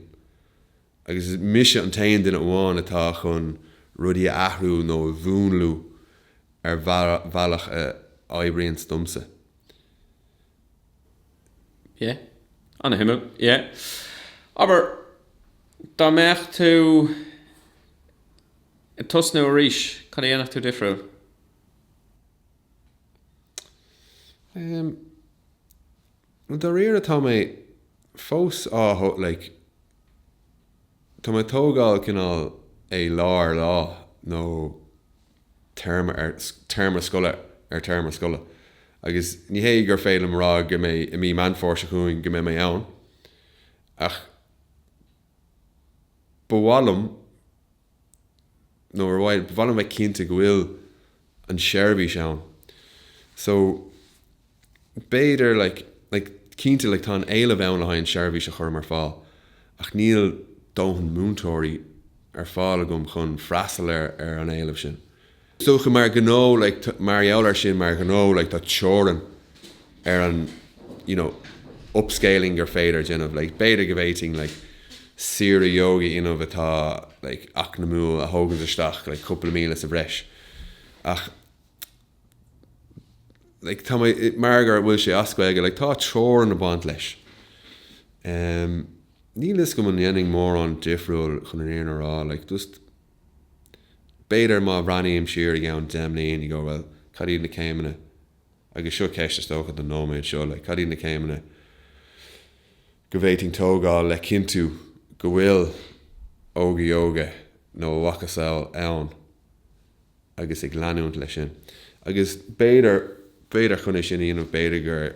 agus is mise an t-aon duine amháin atá chun rudaí a athrú nó a mhúnlú ar bhealach a oibríonns domsa. Yeah. Ana-shuimiúil. Yeah. Abair, dá mbeadh tú. ag tosnú arís, cad a dhéanfadh tú difriúil? Em. Bhuel, dáiríre tá mé fós á thó, like, tá mé ag tógáil cineál é lá ar lá nó téarma ar téarma scoile ar téarma scoile agus ní hé gur féidir liom a rá go mbeidh, i mí Meán Fómhair seo chugainn, go mbeidh mé ann ach ba mhaith liom nó ar mhaith liom a bheith cinnte go bhfuil an seirbhís ann so b'fhéidir like like cinnte like tá an éileamh ann le haghaidh an seirbhís a chuirim ar fáil ach níl dóthain múinteoirí ar fáil agam chun freastal ar ar an éileamh sin so mar ghnó like mar gheall air sin mar ghnó like tá teorainn ar an you know upscaling gur féidir a dhéanamh like b'fhéidir go bhféadfainn like saor-ióga a dhéanamh atá like eacnamúil a thógaint isteach like cúpla míle sa bhreis ach like tá mar gur bhfuil sé as Gaeilge like tá teorainn ag baint leis um níl fhios agam an ndéanfainn mórán difriúil chun an fhírinne a rá like just B'fhéidir má bhreathnaím siar i gceann deich mbliana go, bhuel, cad iad na céimeanna, agus seo ceist is dócha don nóiméad seo, like, cad iad na céimeanna go bhféadfainn tógáil le cinntiú go bhfuil Óga Yoga nó a mhacasamhail ann agus ag leanúint leis sin. Agus b'fhéidir, b'fhéidir chun é sin a dhéanamh b'fhéidir gur.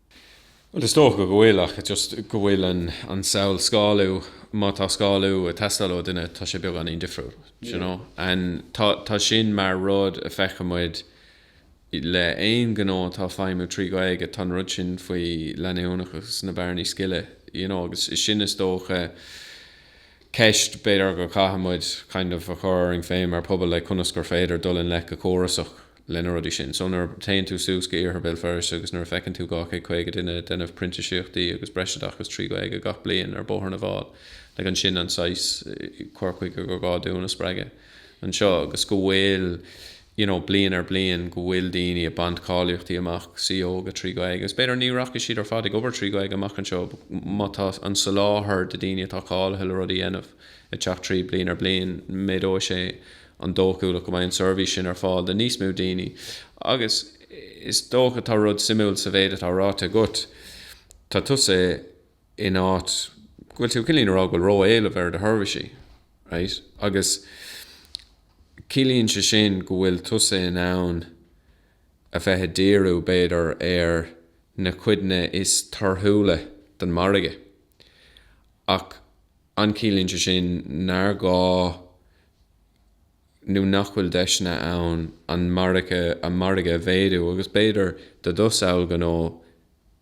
Bhuel, is dócha go bhfuil, ach just go bhfuil an samhail scálú, má tá scálú ag teastáil ó dhuine, tá sé beagáinín difriúil, d'you know? And tá, tá sin mar rud a feiceamuid le aon gnó atá ag feidhmiú trí Ghaeilge, tá an rud sin faoi leanúnachas, na bearnaí scile, d'you know? Agus is sin is dócha ceist, b'fhéidir go gcaithfimid kind of a chur orainn féin mar phobal, like conas gur féidir dul i ngleic go córasach le na rudaí sin. So nuair a théann tú suas go Iarthar Béal Feirste agus nuair a feiceann tú 250 duine ag déanamh printisíochtaí agus breisoideachas trí Ghaeilge gach bliain ar Bóthar na bhFál, like sin an saghas cur chuige gur gá dúinn a spreagadh anseo agus go bhfuil you know bliain ar bliain go bhfuil daoine ag baint cáilíochtaí amach, san ióga trí Ghaeilge agus b'fhéidir ní rachaidh siad ar fad ag obair trí Ghaeilge amach anseo but má tá an soláthar de daoine atá cáilithe le rudaí a dhéanamh ag teacht tríd bliain ar bliain méadóidh sé an dóchúlacht go mbeidh an seirbhís sin ar fáil do níos mó daoine. Agus is dócha, tá rud suimiúil sa mhéid atá ráite agat. Tá tusa in áit go bhfuil tú cineál a rá go bhfuil ró-éileamh ar do sheirbhísí, right? Agus ciallaíonn sé sin go bhfuil tusa in ann a bheith a díriú, b'fhéidir, ar na cuideanna is torthúla den margadh. Ach an ciallaíonn sé sin nár ghá nó nach bhfuil deiseanna ann an margadh a mhéadú, agus b'fhéidir go dtosnódh gnó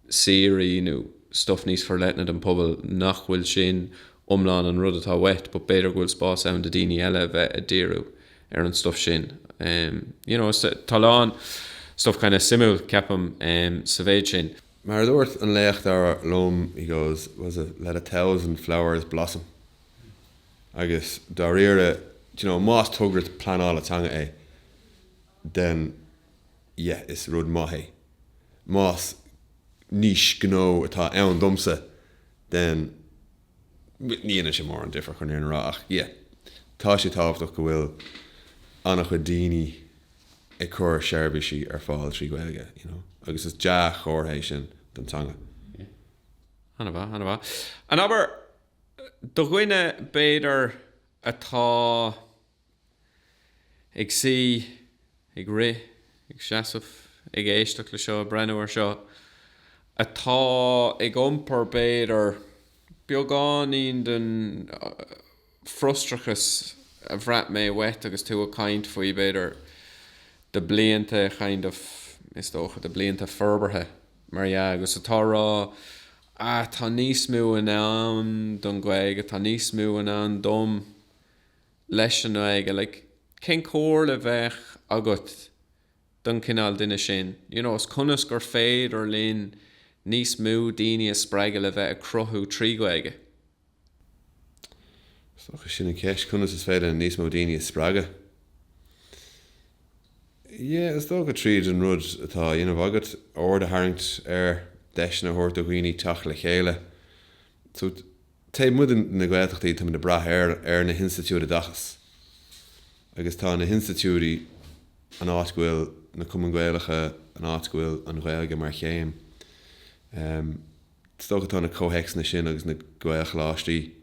saoire nó stuff níos forleithne don pobal nach bhfuil sin iomlán an rud atá uait, but b'fhéidir go bhfuil spás ann do daoine eile a bheith a díriú ar an stuff sin. You know, is tá a lán stuff kind of suimiúil, ceapaim, sa mhéid sin. Mar a dúirt an léachtóir liom, he goes, was it let a thousand flowers blossom? Agus dáiríre, d'you know, más togra pleanála teanga é, then yeah, is rud maith é. Más niche gnó atá ann domsa, then ní dhéanann sé mórán difir, chun an fhírinne a rá, ach yeah, tá sé tábhachtach go bhfuil an-chuid daoine ag cur seirbhísí ar fáil trí Ghaeilge, you know, agus is dea-chomhartha é sin don teanga. An-mhaith, an-mhaith. An abair! Do dhuine, b'fhéidir, atá ag suí, ag rith, ag seasamh, ag éisteacht le seo, ag breathnú ar seo, atá ag iompar, b'fhéidir, beagáinín den frustrachas a bhraith mé uait agus tú ag caint faoi, b'fhéidir, do blianta, kind of, is dócha, do blianta forbartha, mar dhea, agus atá a rá, ah, tá níos mó i ndán don Ghaeilge, tá níos mó i ndán dom leis an nGaeilge, like, cén comhairle bheadh agat don chineál duine sin, you know, is conas gur féidir linn níos mó daoine a spreagadh le bheith ag cruthú trí Ghaeilge? Is dócha sin an cheist, conas is féidir linn níos mó daoine a spreagadh? Yeah, is dócha tríd an rud atá a dhéanamh agat, aird a tharraingt air, deiseanna a thabhairt do dhaoine teacht le chéile. So, taobh amuigh de na Gaeltachtaí, táimid ag brath ar na hinstitiúidí oideachais. Agus tá na hinstitiúidí an áit go bhfuil na Cumainn Gaelacha, an áit go bhfuil an Ghaeilge mar chéim. Um. Is dócha tá na comhthéacsanna sin agus na Gaelcholáistí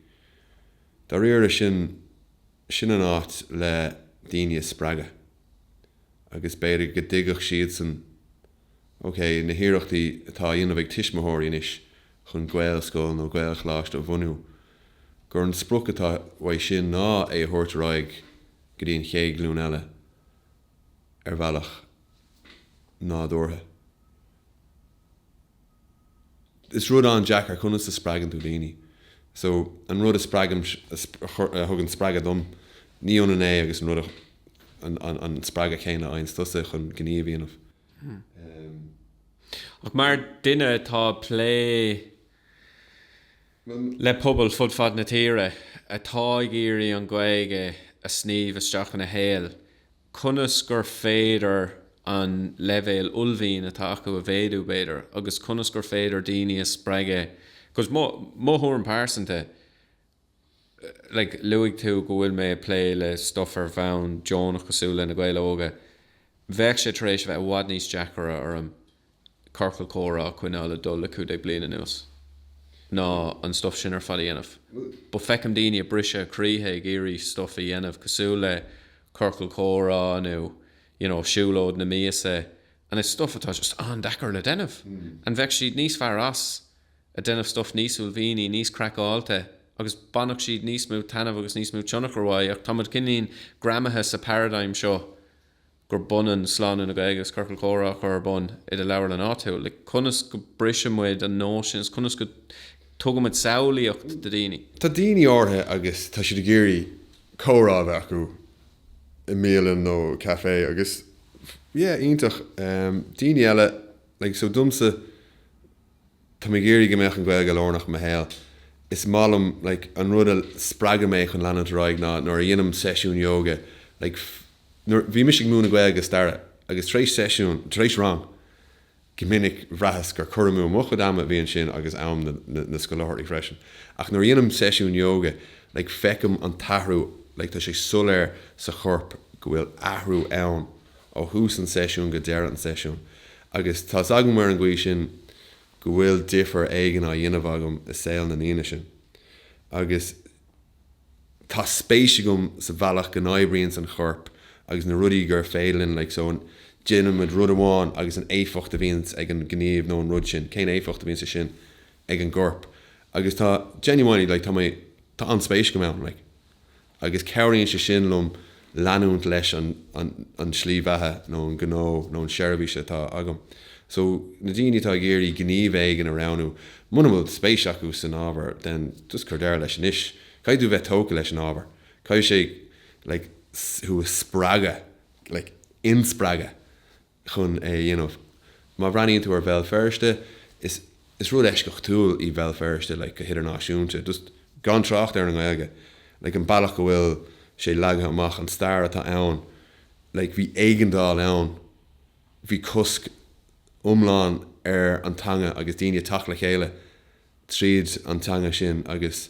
dáiríre, sin, sin an áit le daoine a spreagadh agus b'fhéidir go dtuigfeadh siadsan, ok, na hiarrachtaí atá á dhéanamh ag tuismitheoirí anois chun Gaelscoil nó Gaelcholáiste a bhunú, gur an sprioc atá uaidh sin ná é a thabhairt ar aghaidh go dtí an chéad ghlúin eile ar bhealach nádúrtha. Is rud an-deacair, conas a spreagann tú daoine? So, an rud a spreagaim, a thugann spreagadh dom, ní ionann é agus an rud a, an spreagadh céanna a fhaigheanns tusa chun gníomh a dhéanamh. Ach mar duine atá ag plé le pobail fud fad na tíre, atá ag iarraidh an Ghaeilge a sníomh isteach ina shaol, conas gur féidir an leibhéal uaillmhian atá acu a mhéadú, b'fhéidir, agus conas gur féidir daoine a spreagadh, cos mo, mo thuairim pearsanta, like luaigh tú go bhfuil mé ag plé le stuff ar bhonn deonach cosúil le Na Gaeil Óga, bheadh sé tar éis a bheith i bhfad níos deacaire orm ciorcal comhrá a choinneáil ag dul le cúig déag bliain anuas ná an stuif sin ar fad a dhéanamh. But feicim daoine ag briseadh a croíthe ag iarraidh stuif a dhéanamh cosúil le ciorcal comhrá nó you know siúlóid na míosa and it's stuif atá just an-deacair le déanamh and bheadh siad níos fearr as a déanamh stuif níos uaillmhianaí, níos craiceáilte agus bhainfeadh siad níos mó taitneamh agus níos mó tionchar uaidh ach táimid cineál greamaithe sa paradigm seo gurb ionann slánú na Gaeilge agus ciorcal comhrá a chur ar bun i do leabharlann áitiúil, like conas go briseann muid an nóisean sin is conas go tugann muid samhlaíocht do daoine. Tá daoine áirithe agus tá siad ag iarraidh comhrá a bheith acu i mbialann nó café agus yeah iontach, daoine eile like so domsa, Tá mé ag iarraidh go mbeadh an Ghaeilge lárnach i mo shaol. Is maith liom like an rud a spreagann mé chun leanúint ar aghaidh ná nuair a dhéanaim seisiún yoga like, bhí mise ag múineadh Gaeilge is Staire agus tar éis seisiún, tar éis rang go minic bhraitheas gur cur amú mo chuid ama a bhí ansin agus am na, na, na scoláirí freisin. Ach nuair a dhéanaim seisiún yoga like feicim an t-athrú like tá sé soiléir sa chorp go bhfuil athrú ann. ó thús an tseisiúin go deireadh an tseisiúin agus tá 's agam ar an gcaoi sin go bhfuil difear éigin á dhéanamh agam i saol na ndaoine sin agus tá spéis agam sa bhealach go n-oibríonns an chorp agus na rudaí gur féidir linn like so déanaimid rud amháin agus an éifeacht a bhíonns ag an ngníomh nó an rud sin, cén éifeacht a bhíonns sin ag an gcorp agus tá genuinely like tá mé tá an-spéis agam ann like. Agus cabhraíonn sé sin liom leanúint leis an slí bheatha nó an gnó nó an tseirbhís atá agam. So, na daoine atá ag iarraidh gníomh éigin a roghnú, muna bhfuil spéis acu san ábhar, then just cuir deireadh leis anois. Caithfidh tú bheith tógtha leis an ábhar. Caithfidh sé like thú a spreagadh, like inspreagadh. chun é a dhéanamh. Má bhreathnaíonn tú ar Bhéal Feirste, is is rud eisceachtúil í Bhéal Feirste, like, go hidirnáisiúnta, just gan trácht ar an nGaeilge, like, an bealach go bhfuil sé leagtha amach, an stair atá ann, like, bhí éigeandáil ann, bhí cosc iomlán ar an teanga agus daoine ag teacht le chéile tríd an teanga sin agus.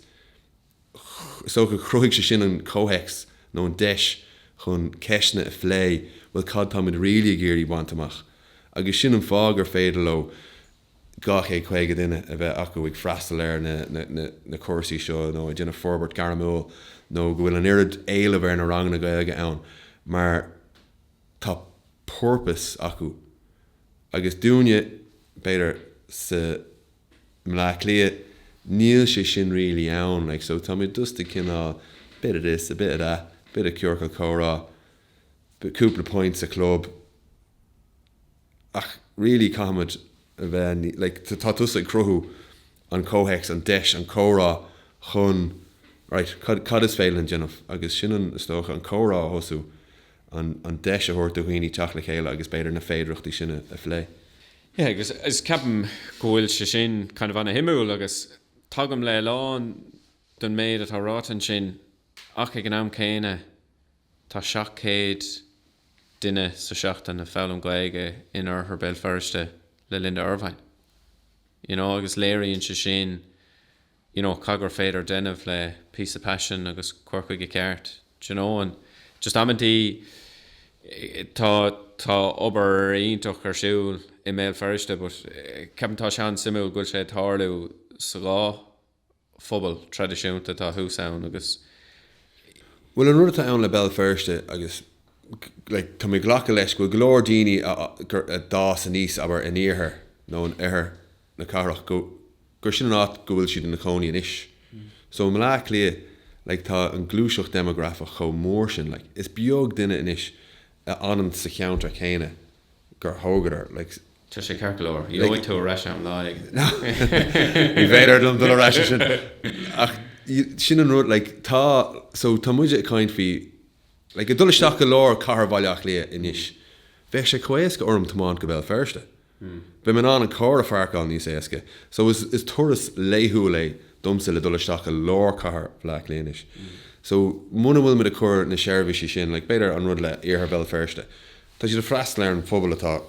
Is dócha gur chruthaigh sé sin an comhthéacs nó an deis chun ceisteanna a phlé, bhuel cad táimid really ag iarraidh baint amach? Agus sin an fáth gur féidir leo 250 duine a bheith acu ag freastal ar na cúrsaí seo nó ag déanamh forbairt ghairmiúil nó go bhfuil an oiread éilimh ar na ranganna Gaeilge ann mar tá purpose acu. Agus dúinne, b'fhéidir, sa. mBleá Cliath, níl sé sin really ann, like so tá mé just ag cineál bit of this, a bit of that, bit of ciorcal comhrá, cúpla pint sa chlub, ach really caithfimid a bheith like tá tusa ag cruthú an comhthéacs, an deis, an comhrá chun right, cad is féidir linn déanamh agus sin an is dócha, an comhrá a thosú, an deis a thabhairt do dhaoine teacht le chéile agus b'fhéidir na féidireachtaí sin a phlé. Yeah, agus is ceapaim go bhfuil sé sin kind of ana-shuimiúil agus tagaim le a lán den méid atá ráite ansin ach ag an am céanna tá 700 duine sa seachtain ag foghlaim Gaeilge in Oirthear Bhéal Feirste le Linda Ervine, you know, agus léiríonn sé sin. you know cad gur féidir déanamh le píosa paisin agus cur chuige ceart d'you know and just amantaí tá obair iontach ar siúl i mBéal Feirste but ceapaim tá sé an-suimiúil go bhfuil sé ag tarlú sa dhá phobal traidisiúnta atá thuas ann agus you. Bhuel an rud atá ann le Béal Feirste agus like tá mé ag glacadh leis go bhfuil go leor daoine a d'fhás aníos abair in iarthar nó in oirthear na cathrach, go, gur sin an áit go bhfuil siad ina gcónaí anois. So i mBleá Cliath, like, tá an gluaiseacht déimeagrafach chomh mór sin, like, is beag duine anois a fhanann sa cheantar céanna gur thógadar, like, Tá sé ceart go leor. Gheobhaidh tú ar ais é, lá éigin. Ní féidir liom dul ar ais ansin. Ach sin an rud, like, tá, so tá muid ag caint faoi, like, ag dul isteach go lár chathair Bhaile Átha Cliath anois, bheadh sé chomh héasca orm tiomáint go Béal Feirste. Beidh mé in ann an carr a phairceáil níos éasca. So, is turas laethúil é domsa le dul isteach i lár chathair Bhaile Átha Cliath anois. So, muna bhfuil muid ag cur na seirbhísí sin, like, b'fhéidir an rud le Iarthar Bhéal Feirste, tá siad ag freastal ar an phobal atá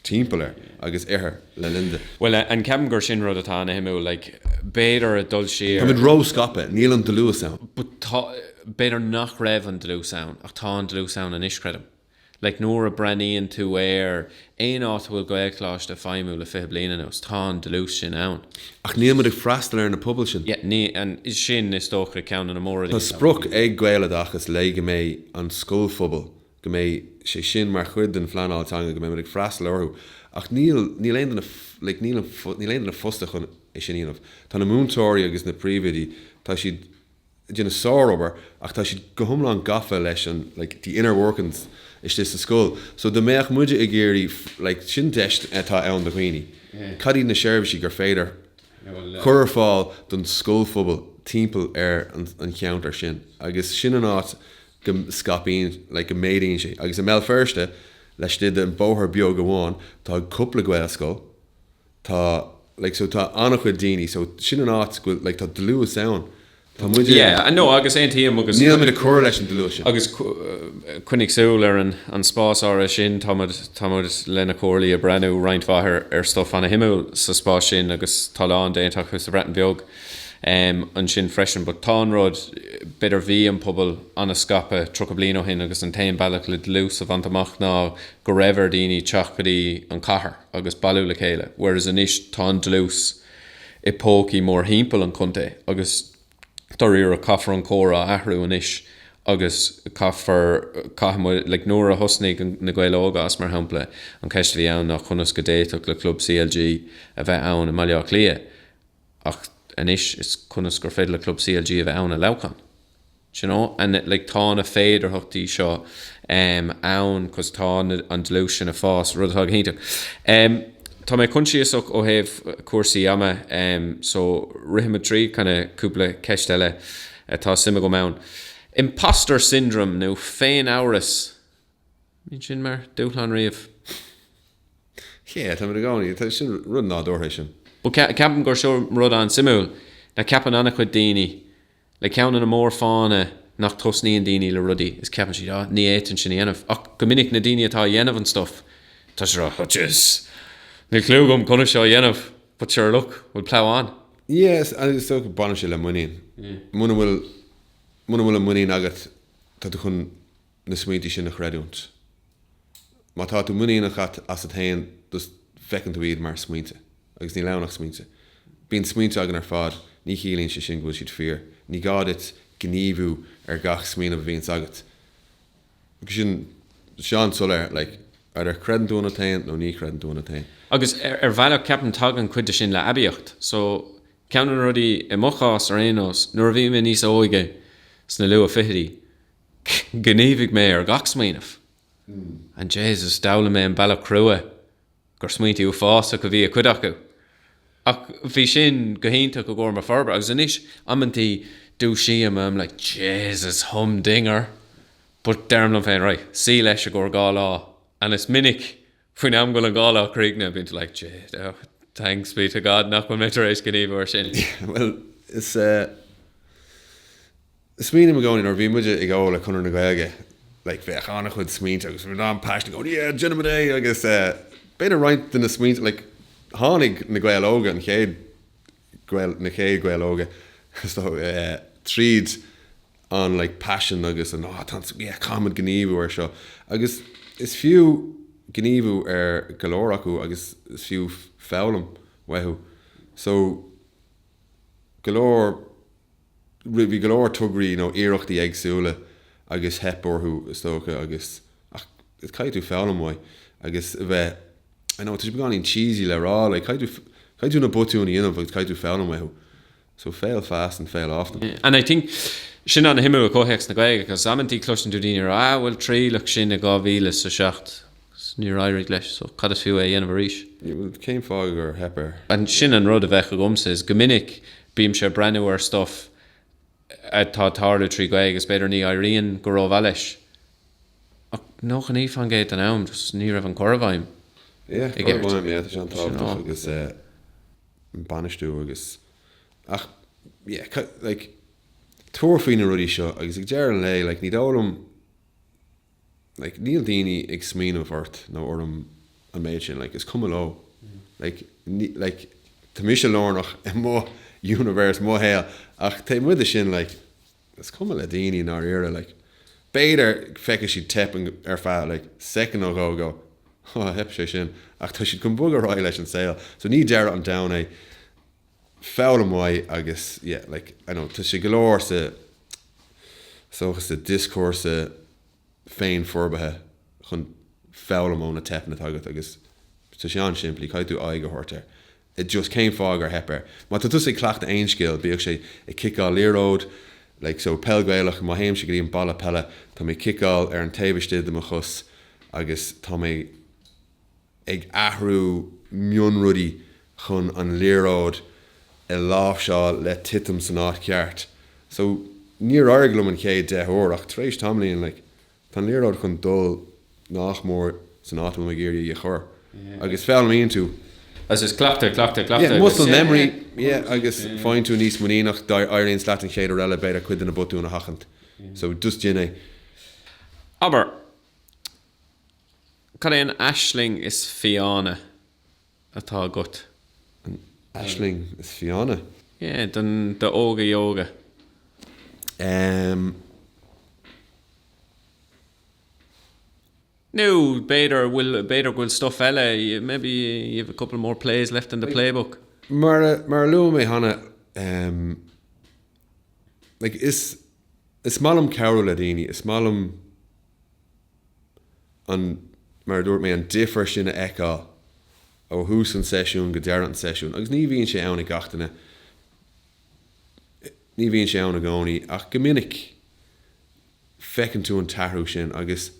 timpeall air agus Oirthear le Linda. Bhuel, ceapaim gur sin rud atá ana shuimiúil, like, b'fhéidir ag dul siar. Tá muid ró scaipthe, níl an dlús ann. But b'fhéidir nach raibh an dlús ann, ach tá an dlús ann anois, creidim. Like, nuair a breathnaíonn tú ar aon áit a bhfuil Gaelcholáiste ag feidhmiú le fiche bliain anuas, tá an dlús sin ann. Ach níl muid ag freastal ar na pobail sin. Yeah, níl, and sin, is dócha, ceann de na mór-rudaí atá. Tá sprioc ag Gaeloideachas like, go mbeidh an scoilphobal, go mbeidh sé sin mar chuid den phleanáil teanga, go mbeidh muid ag freastal orthu, ach níl, níl aon duine, like, níl, níl aon duine fostaithe chun é sin a dhéanamh. Tá na múinteoirí agus na príomhoidí, tá siad. ag déanamh sárobair ach tá siad go hiomlán gafa leis an like the inner workings istigh sa scoil so dá mbeadh muidne ag iarraidh like sin deis atá ann do dhaoine cad iad na seirbhísí gur féidir cur ar fáil don scoilphobal timpeall ar an cheantar sin agus sin an áit go scaipíonn like go méadaíonn sé agus i mBéal Feirste laistigh den bóthar beag amháin tá cúpla Gaelscoil tá like so tá an-chuid daoine so sin an áit go bhfuil like tá dlús ann tá muid i yeah i know agus aontaím agus níl muid ag cur leis an dlús sin agus coinnigh súil ar an an spás áirithe sin tá muid tá muid leis na comhairlí ag breathnú roinnt mhaith ar ar stuff an-suimiúil sa spás sin agus tá a lán déanta acu sa Bhreatain Bheag em ansin freisin but sé an rud b'fhéidir bhí an pobal an-scaipthe 30 bliain ó shin agus an t-aon bealach le dlús a bhaint amach ná go raibh ar daoine teacht go dtí an cathair agus bailiú le chéile, whereas anois tá an dlús i bpócaí mórthimpeall an chontae agus dáiríre caithfear an córas a athrú anois agus caithfear, caithfimid, like nuair a thosnaigh Na Gaeil Óga as mar shampla, an cheist a bhí ann ná conas go bhféadfadh le club CLG a bheith ann i mBaile Átha Cliath? Ach anois is conas gur féidir le club CLG a bheith ann i Leamhcán? Do you know? And like tá na féidearthachtaí seo em ann 'cause tá na an dlús sin ag fás, rud atá go hiontach. Em tá mé coinsiasach ó thaobh cúrsaí ama em so rithimid tríd kinda cúpla ceist eile atá suim agam ann. Imposter syndrome nó féin-amhras? An mbíonn sin mar dúshlán riamh. Yeah, tá muid i gcónaí. Tá sin rud nádúrtha sin. Bhuel, ceapaim gur seo rud an-suimiúil, like ceapann an-chuid daoine, like ceann de na mórfháthanna nach tosnaíonn daoine le rudaí is ceapann siad, ah, ní fhéadfainn sin a dhéanamh. Ach go minic, na daoine atá ag déanamh an stuff, tá siad ag rá, jeez, níl cliú agam conas seo a dhéanamh, but sure, look, we'll plough on. Yes, agus is dócha, baineann sé le muinín. Muna bhfuil, muna bhfuil an muinín agat, tá tú chun. na smaointe sin a chreidiúint. Má tá tú muiníneach asat féin just feiceann tú iad mar smaointe. Agus níl ann ach smaointe. Bíonn smaointe againn ar fad, ní chiallaíonn sé sin go bhfuil siad fíor. Ní gá duit gníomhú ar gach smaoineamh a bhíonns agat. Agus sin an-soiléir like either creideann tú ionat féin nó ní chreideann tú ionat féin. Agus ar bhealach ceapaim tagann cuid de sin le aibíocht. So ceann de na rudaí, i mo chás ar aon nós, nuair a bhí mé níos óige, sna luath fichidí, Ghníomhaigh mé ar gach smaoineamh. And Jesus, d'fhoghlaim mé an bealach crua gur smaointí uafásach a bhí i cuid acu. Ach bhí sin go hiontach i gcomhair mo forbartha. Agus anois, amanntaí, dúisím, I'm like, Jesus, humdinger! But deirim liom féin, right, suí leis i gcomhair dhá lá. And is minic! Faoin am go bhfuil an dá lá críochnaithe, bíonn tú like, shit, oh, thanks be to God nach bhfuil mé tar éis gníomhú ar sin. Bhuel, is eh, smaoiním i gcónaí, nuair a bhí muide ag gabháil do Chonradh na Gaeilge, like bhí an-chuid smaointe agus bhí an-passion ag, oh yeah, déanfaimid é agus eh, b'fhéidir roinnt de na smaointe, like tháinig Na Gaeil Óga an chéad, na chéad Ghaeil Óga is dóigh, tríd an like passion agus an áh tá an yeah caithfimid gníomhú ar seo. Agus is fiú gníomhú ar go leor acu agus is fiú foghlaim uathu. So go leor. Bhí go leor tograí nó iarrachtaí éagsúla agus theip orthu is dócha agus, ach is caithfidh tú foghlaim uaidh agus a bheith, I know tá sé beagáinín cheesy le rá like caithfidh tú, caithfidh tú na botúin a dhéanamh agus caithfidh tú foghlaim uathu. So fail fast and fail often. Yeah and I think sin an-shuimiúil i gcomhthéacs na Gaeilge 'cause amanntaí cloiseann tú daoine ag rá ah bhuel triaileadh sin i 2007 Níor éirigh leis, so cad is fiú é a dhéanamh arís? Bhuel, cén fáth gur theip air? And sin an rud a bheadh agamsa is go minic bímse ag breathnú ar stuff atá ag tarlú trí Ghaeilge agus b'fhéidir ní éiríonn go rómhaith leis ach nócha naoi faoin gcéad den am just ní raibh an cur i bhfeidhm Yeah, cur i bhfeidhm, yeah, tá sé an-tábhachtach agus an bainistiú agus ach yeah, cad, like, tabhair faoi na rudaí seo agus ag deireadh an lae, like, ní dóigh liom, like níl daoine ag smaoineamh ort nó orm an méid sin, like is cuma leo, like ní, like tá mise lárnach i mo universe, mo shaol, ach taobh amuigh de sin, like is cuma le daoine i ndáiríre, like b'fhéidir feicfidh siad teip ar feadh like soicind nó dhó, go oh theip sé sin, ach tá siad chun bogadh ar aghaidh leis an saol, so ní deireadh an domhain é. foghlaim mhaith agus yeah like I know tá sé go leor sa dioscúrsa féinfhorbartha chun foghlaim ó na teipeanna atá agat agus tá sé an-simplí, caithfidh tú aghaidh a thabhairt air it just cén fáth gur theip air. Má tá tusa ag cleachtadh aon skill, bíodh sé ag ciceáil liathróid like so peil Gaelach má théimse go dtí an balla peile, tá mé ag ciceáil ar an taobh istigh de mo chos agus tá mé. ag athrú mionrudaí chun an liathróid a láimhseáil le titim san áit ceart. So, níor éirigh liom an chéad deich uair ach tar éis tamaillín, like, tá an liathróid chun dul nach mór san áit a bhfuil mé ag iarraidh í a chur. Agus foghlaimíonn tú. Agus is cleachtadh, cleachtadh, cleachtadh agus. Yeah, muscle memory, yeah, agus faigheann tú níos muiníneach, d'éiríonn leat an chéad uair eile b'fhéidir cuid de na botúin a sheachaint. So, just déan é. Abair, Cad é an aisling is fiáine atá agat? An aisling is fiáine? Yeah, do Óga Yoga. Ehm. Nó b'fhéidir bhfuil, b'fhéidir go bhfuil stuff eile, maybe you have a couple more plays left in the playbook. Mar a, mar a luaigh mé cheana, ehm, like is, is maith liom cabhrú le daoine, is maith liom an, mar a dúirt mé, an difear sin a fheiceáil ó thús an tseisiúin go deireadh an tseisiúin, agus ní bhíonn sé ann ag gach duine, ní bhíonn sé ann i gcónaí, ach go minic feiceann tú an t-athrú sin agus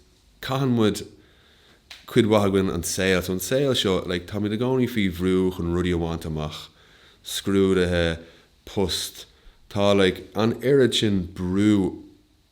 caitheann muid, cuid mhaith againn, an saol, so an saol seo, like, táimid i gcónaí faoi bhrú chun rudaí a bhaint amach, scrúduithe, post, tá, like, an oiread sin brú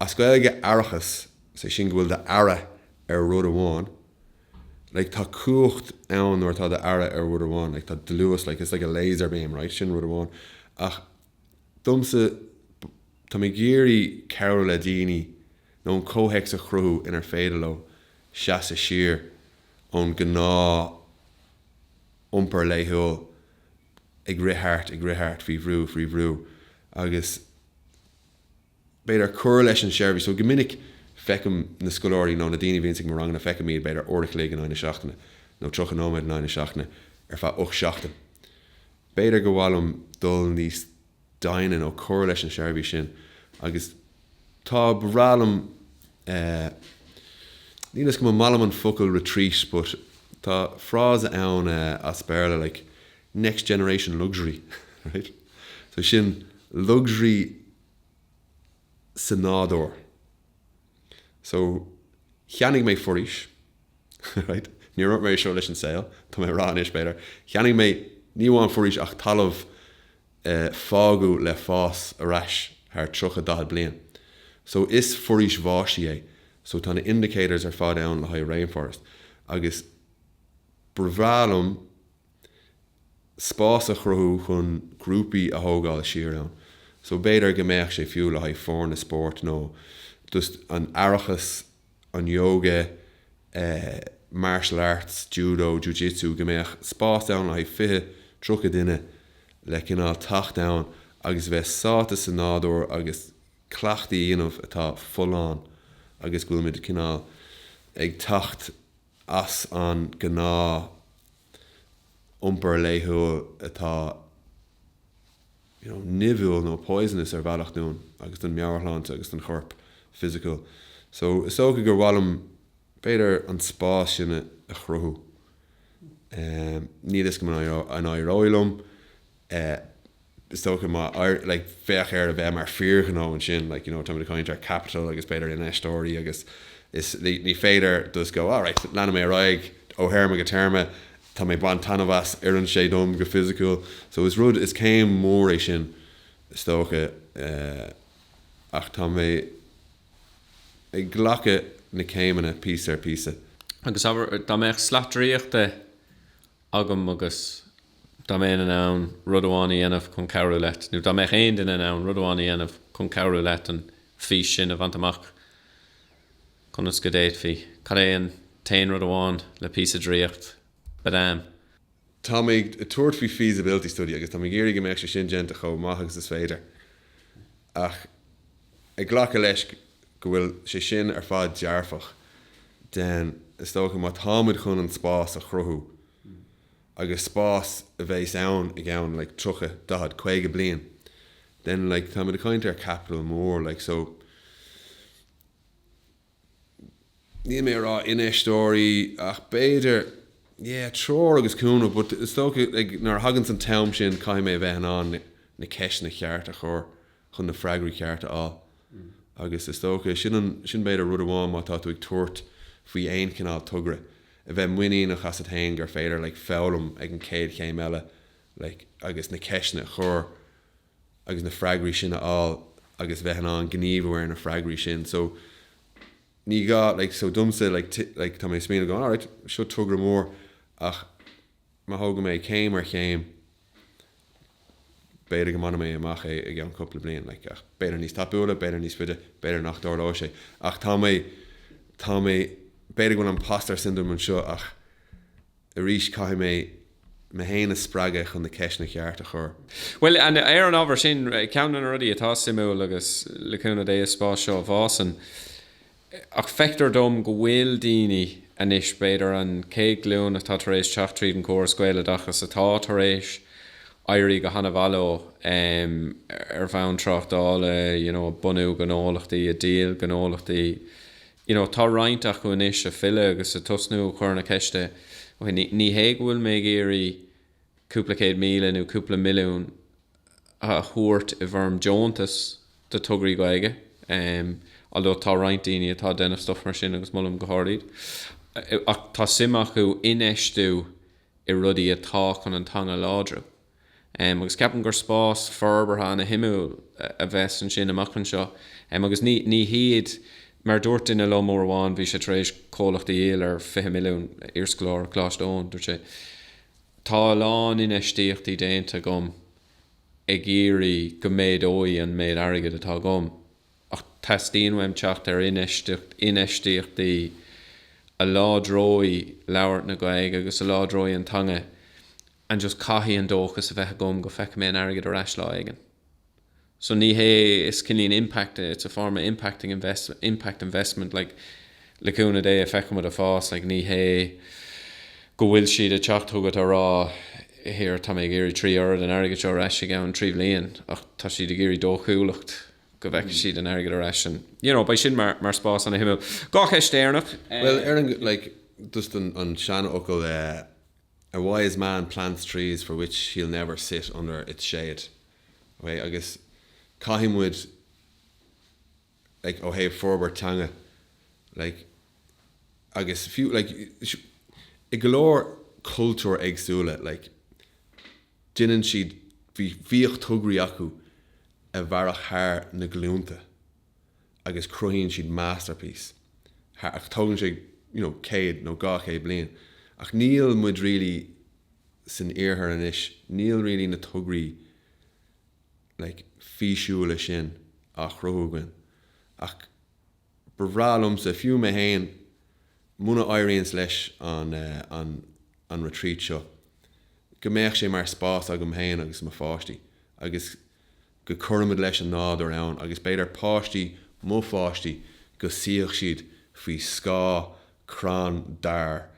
As Gaeilge, aireachas, is é sin go bhfuil d'aire ar rud amháin, like tá cumhacht ann nuair atá d'aire ar rud amháin, like tá dlús, like it's like a laser beam, right? Sin rud amháin. Ach domsa, tá mé ag iarraidh cabhrú le daoine nó an comhthéacs a chruthú inar féidir leo seasadh siar ón gnáth iompar laethúil ag rith thart, ag rith thart, faoi bhrú, faoi bhrú, agus b'fhéidir cur leis an seirbhís. So go minic feicim na scoláirí nó na daoine a bhíonns ag mo ranganna, feicim iad b'fhéidir uair a chloig in aghaidh na seachtaine, nó 30 nóiméad in aghaidh na seachtaine ar feadh ocht seachtain. B'fhéidir gur mhaith liom dul níos. doimhne nó cur leis an seirbhís sin agus tá, ba bhreá liom eh, níl a fhios agam an maith liom an focal retreat but tá frása ann eh as Béarla like next generation luxury right so sin luxury sa nádúr. So, cheannaigh mé foraois. Ní roinnim é seo leis an saol, tá mé á rá anois, b'fhéidir. Cheannaigh mé, ní amháin foraois, ach talamh a fágadh le fás ar ais thar tríocha, daichead bliain. So, is foraois bháistí é. So, tá na indicators ar fad ann le haghaidh rainforest. Agus ba bhreá liom. spás a chruthú chun grúpaí a thógáil siar ann. So b'fhéidir go mbeadh sé fiú le haghaidh foirne spóirt nó just an aireachas, an yoga, eh, martial arts, judo, jiu-jitsu, go mbeadh spás ann le haghaidh fiche, tríocha duine le cineál teacht ann agus bheith sáite sa nádúr agus cleachtaí a dhéanamh atá folláin agus go bhfuil muid cineál ag teacht as an ngnáth iompar laethúil atá nimhiúil nó poisonous ar bhealach dúinn agus don meabhairshláinte agus don chorp fisiciúil. So, is dócha gur mhaith liom b'fhéidir an spás sin a chruthú. Níl fhios agam an éireoidh liom. is dócha, má éir, like, bheadh air a bheith mar fíorghnó ansin, like, you know, tá mé ag caint ar capital agus b'fhéidir infheisteoirí agus is, ní féidir just go, alright, leanfaidh mé ar aghaidh ó théarma go téarma, tá mé ag baint taitneamh as, oireann sé dom go fisiciúil. So is rud, is céim mór é sin is dócha ach tá mé ag glacadh na céimeanna píosa ar phíosa. Agus dá mbeadh slat draíochta agam agus dá mbeinn in ann rud amháin a dhéanamh chun cabhrú leat, nó dá mbeadh aon duine in ann rud amháin a dhéanamh chun cabhrú leat an fís sin a bhaint amach, conas go bhféadfaí? Cad é an t-aon rud amháin le píosa draíocht? Badam! Tá mé ag tabhairt faoi feasibility study agus tá mé ag iarraidh go mbeadh sé sin déanta chomh maith agus is féidir. Ach ag glacadh leis go bhfuil sé sin ar fad dearfach, then, is dócha, má táimid chun an spás a chruthú, agus spás a bheas ann i gceann like tríocha, daichead, caoga bliain, then like táimid ag caint ar capital mór like so. níl mé ag rá infheisteoirí ach b'fhéidir yeah treoir agus cúnamh but is dócha like nuair a thaganns an t-am sin caithfidh mé a bheith in ann na ceisteanna cearta a chur chun na freagraí cearta a fháil agus is dócha sin an sin b'fhéidir rud amháin má tá tú ag tabhairt faoi aon chineál togra a bheith muiníneach asat féin gur féidir like foghlaim ag an chéad chéim eile like agus na ceisteanna a chur agus na freagraí sin a fháil agus bheith in ann gníomhú ar na freagraí sin. So ní gá, like, so domsa, like, like, tá mé ag smaoineamh going alright, seo togra mór ach má thógann mé céim ar chéim, b'fhéidir go mbainfidh mé amach é i gceann cúpla bliain, like, ach b'fhéidir níos tapúla, b'fhéidir níos faide, b'fhéidir nach dtarlóidh sé. Ach tá mé, tá mé, b'fhéidir go bhfuil an impostor syndrome anseo ach. Arís, caithfidh mé mé féin a spreagadh chun na ceisteanna ceart a chur. Bhuel, ar an ábhar sin, ceann de na rudaí atá suimiúil, agus le cúnamh Dé is spás seo a fhásann, ach feictear dom go bhfuil daoine anois, b'fhéidir an chéad ghlúin atá tar éis teacht tríd an gcóras Gaeloideachas, atá tar éis éirí go hana mhaith leo ar bhonn tráchtála, you know, bunú gnólachtaí, ag díol gnólachtaí, you know tá roinnt acu anois a' filleadh agus a' tosnú a' cur na ceiste ok ní ní hé go bhfuil mé ag iarraidh cúpla céad míle nó cúpla milliún a thabhairt i bhfoirm deontais do thograí Gaeilge em although tá roinnt daoine atá ag déanamh stuff mar sin agus molaim go hard iad ach tá suim acu infheistiú i rudaí atá chun an teanga a láidriú. agus ceapaim gur spás forbartha ana shuimiúil a bheas ansin amach anseo, agus ní ní hiad, mar dúirt duine liom uair amháin, bhí sé tar éis comhlacht a dhíol ar 20 milliún, iarscoláire Coláiste Eoin, dúirt sé, tá a lán infheistíochtaí déanta agam ag iarraidh go méadóidh an méid airgid atá agam, ach teastaíonn uaim teacht ar infheistíocht, infheistíochtaí a láidreoidh labhairt na Gaeilge agus a láidreoidh an teanga. and just caithfidh an dóchas a bheith agam go feicfidh mé an airgead ar ais lá éigin so ní hé is cineál impact it's a form of impacting invest impact investment like le cúnamh Dé feicfimid a fás like ní hé go bhfuil siad ag teacht chugat á rá here tá mé ag iarraidh trí oiread an airgid seo ar ais i gceann trí bhliain ach tá siad ag iarraidh dóchúlacht go bhfeicfidh siad an airgead ar ais and you know beidh sin mar mar spás ana shuimiúil dhá cheist dheireanach Bhuel ar an like just an an seanfhocal eh. A wise man plants trees for which he'll never sit under its shade. Ok, agus caithfidh muid, like, ó thaobh forbairt teanga, like, agus fiú, like, i go leor cultúir éagsúla, like, déanann siad, bhí, bhíodh tograí acu a mhairfeadh thar na glúnta. agus cruthaíonn siad masterpiece, ach tógann sé you know céad nó dhá chéad bliain ach níl muid really san iarthar anois, níl really na tograí like físiúla sin á chruthú againn ach ba bhreá liomsa, fiú mé féin, muna éiríonns leis an retreat seo, go mbeadh sé mar spás agam féin agus mo pháistí agus go gcuirfimid leis an nádúr ann agus b'fhéidir páistí mo pháistí go suífeadh siad faoi scáth crann dair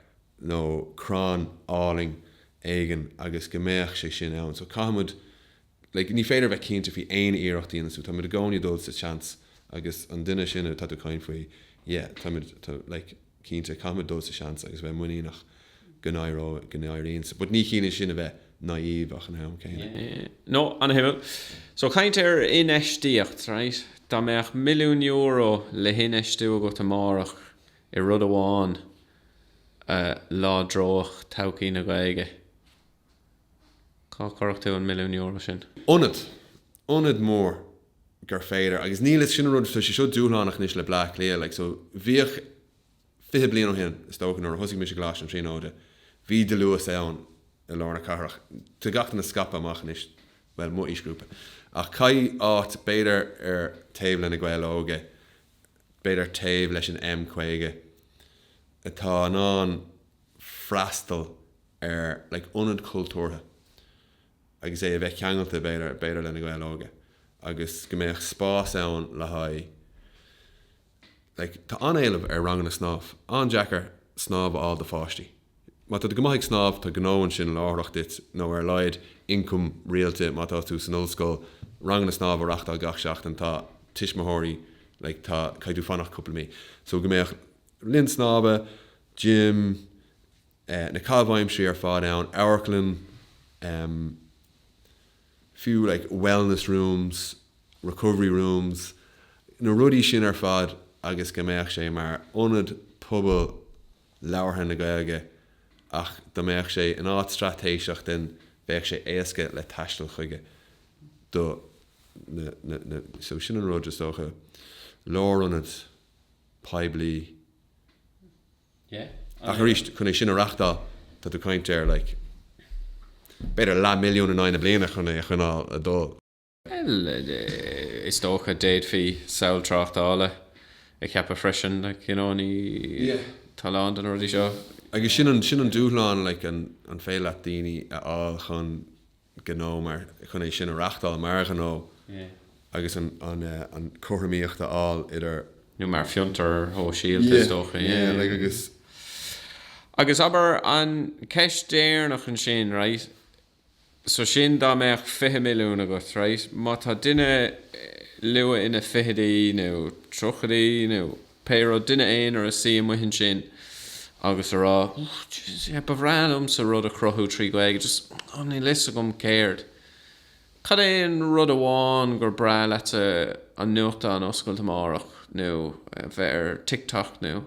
nó crann álainn éigin agus go mbeadh sé sin ann so caithfimid like ní féidir a bheith cinnte faoi aon iarracht a dhéanann tú táimid i gcónaí ag dul sa chance agus an duine sin atá tú caint faoi yeah táimid like Cinnte, caithfimid dul sa seans agus bheith muiníneach go n-éiríonn, but ní chiallaíonn sin a bheith naive ach an am céanna. Yeah, no, ana shuimiúil. So caint ar infheistíocht, right? Dá mbeadh milliún euro le hinfheistiú agat amárach i rud amháin a láidreodh todhchaí na Gaeilge, Cá gcuirfeadh tú an milliún euro sin? Ionad. Ionad mór gur féidir, agus níl fhios, sin an rud, tá sé seo dúshlánach anois le Bleá Cliath, like so bhíodh, fiche bliain ó shin is dócha nuair a thosaigh mise i gColáiste na Tríonóide, bhí dlús ann i lár na cathrach, tá gach duine scaipthe amach anois, bhuel, mo aoisghrúpa, ach caithfidh áit, b'fhéidir taobh le Na Gaeil Óga, b'fhéidir taobh leis an M50, atá in ann freastal ar like ionad cultúrtha agus é a bheith ceangailte b'fhéidir le na Gaeil Óga agus go mbeadh spás ann le haghaidh like tá an-éileamh ar ranganna snámh, an-deacair snámh a fháil do pháistí. Má tá tú go maith ag snámh, tá gnó ansin láithreach duit, nó ar a laghad, ioncam rialta, má tá tú san ollscoil, ranganna snámh a reachtáil gach seachtain, tá tuismitheoirí, like, tá, caithfidh tú fanacht cúpla mí. So, go mbeadh linn snámha, gym, eh, na caithimh aimsirí ar fad ann, amharclann, em, fiú, like, wellness rooms, recovery rooms, na rudaí sin ar fad agus go mbeadh sé mar ionad pobail, labhartha na Gaeilge, ach dá mbeadh sé in áit straitéiseach then bheadh sé éasca le taisteal chuige do so sin an rud is dócha, lárionad poiblí Yeah. Ach arís, chun é sin a reachtáil, tá tú caint ar like b'fhéidir leath milliún in aghaidh na bliana chun é a choinneáil ag dul. Bhuel, is dócha, d'fhéadfaí samhail tráchtála a cheapadh freisin, like, you know, ní, tá a lán de na rudaí seo. Agus sin an, sin an dúshlán, like, an, an féidir leat daoine a fháil chun gnó mar, chun é sin a reachtáil mar ghnó agus an, an, an cothromaíocht a fháil idir. nó mar fiontar sóisialta, is dócha, yeah, yeah, like, agus, agus abair, an cheist dheireanach ansin, right, so sin dá mbeadh 20 milliún agat, right, má tá duine luath ina fichidí nó tríochaidí nó pé rud, duine aonair ag suí amuigh ansin agus ag rá, jeez, yeah, ba bhreá liomsa rud a chruthú trí Ghaeilge, just, oh, níl 'fhios agam céard. Cad é an rud amháin gur breá leatsa an nuachtán a oscailt amárach nó bheith ar TikTok nó.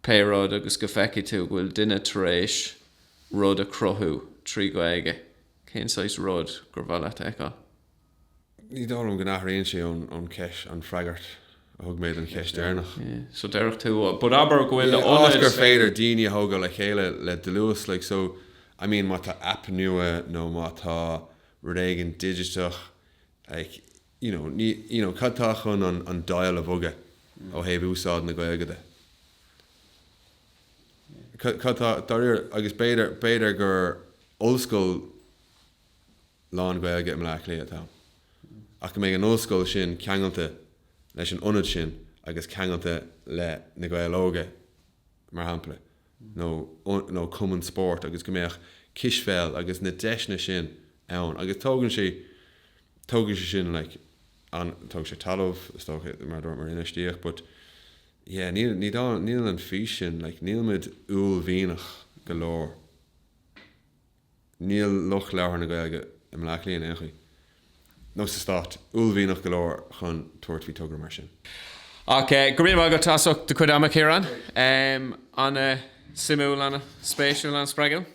Pé rud agus go feicfidh tú go bhfuil duine tar éis rud a chruthú trí Ghaeilge, cén saghas rud gur mhaith leat a fheiceáil? Ní dóigh liom go n-athraíonn sé ón cheist, an freagra a thug mé don cheist deireanach. So déarfadh tú, but abair go bhfuil ionad. Yeah, áit gur féidir daoine a thógáil le chéile le dlús, like, so, I mean, má tá app nua nó má tá rud éigin digiteach, like, you know ní you know cad tá chun an an dial a bhogadh ó thaobh úsáid na Gaeilge de cad cad tá dáiríre agus b'fhéidir b'fhéidir gur ollscoil lán-Ghaeilge i mBleá Cliath atá ann ach go mbeidh an ollscoil sin ceangailte leis an ionad sin agus ceangailte le Na Gaeil Óga mar shampla, nó cumann spóirt, agus go mbeadh cispheil agus na deiseanna sin ann. Agus tógann sé, tógfaidh sé sin like an, tógfaidh sé talamh, is dócha, mar a dúirt, mar infheistíocht, but yeah, níl, ní dóigh, níl an fís sin, like níl muid uaillmhianach go leor. Níl lucht labhartha na Gaeilge i mBleá Cliath in aon chaoi, nó sa stát, uaillmhianach go leor chun tabhairt faoi togra mar sin. OK, go raibh maith agat as ucht do chuid ama, Ciarán. An-suimiúil, an-spéisiúil, an-spreagúil.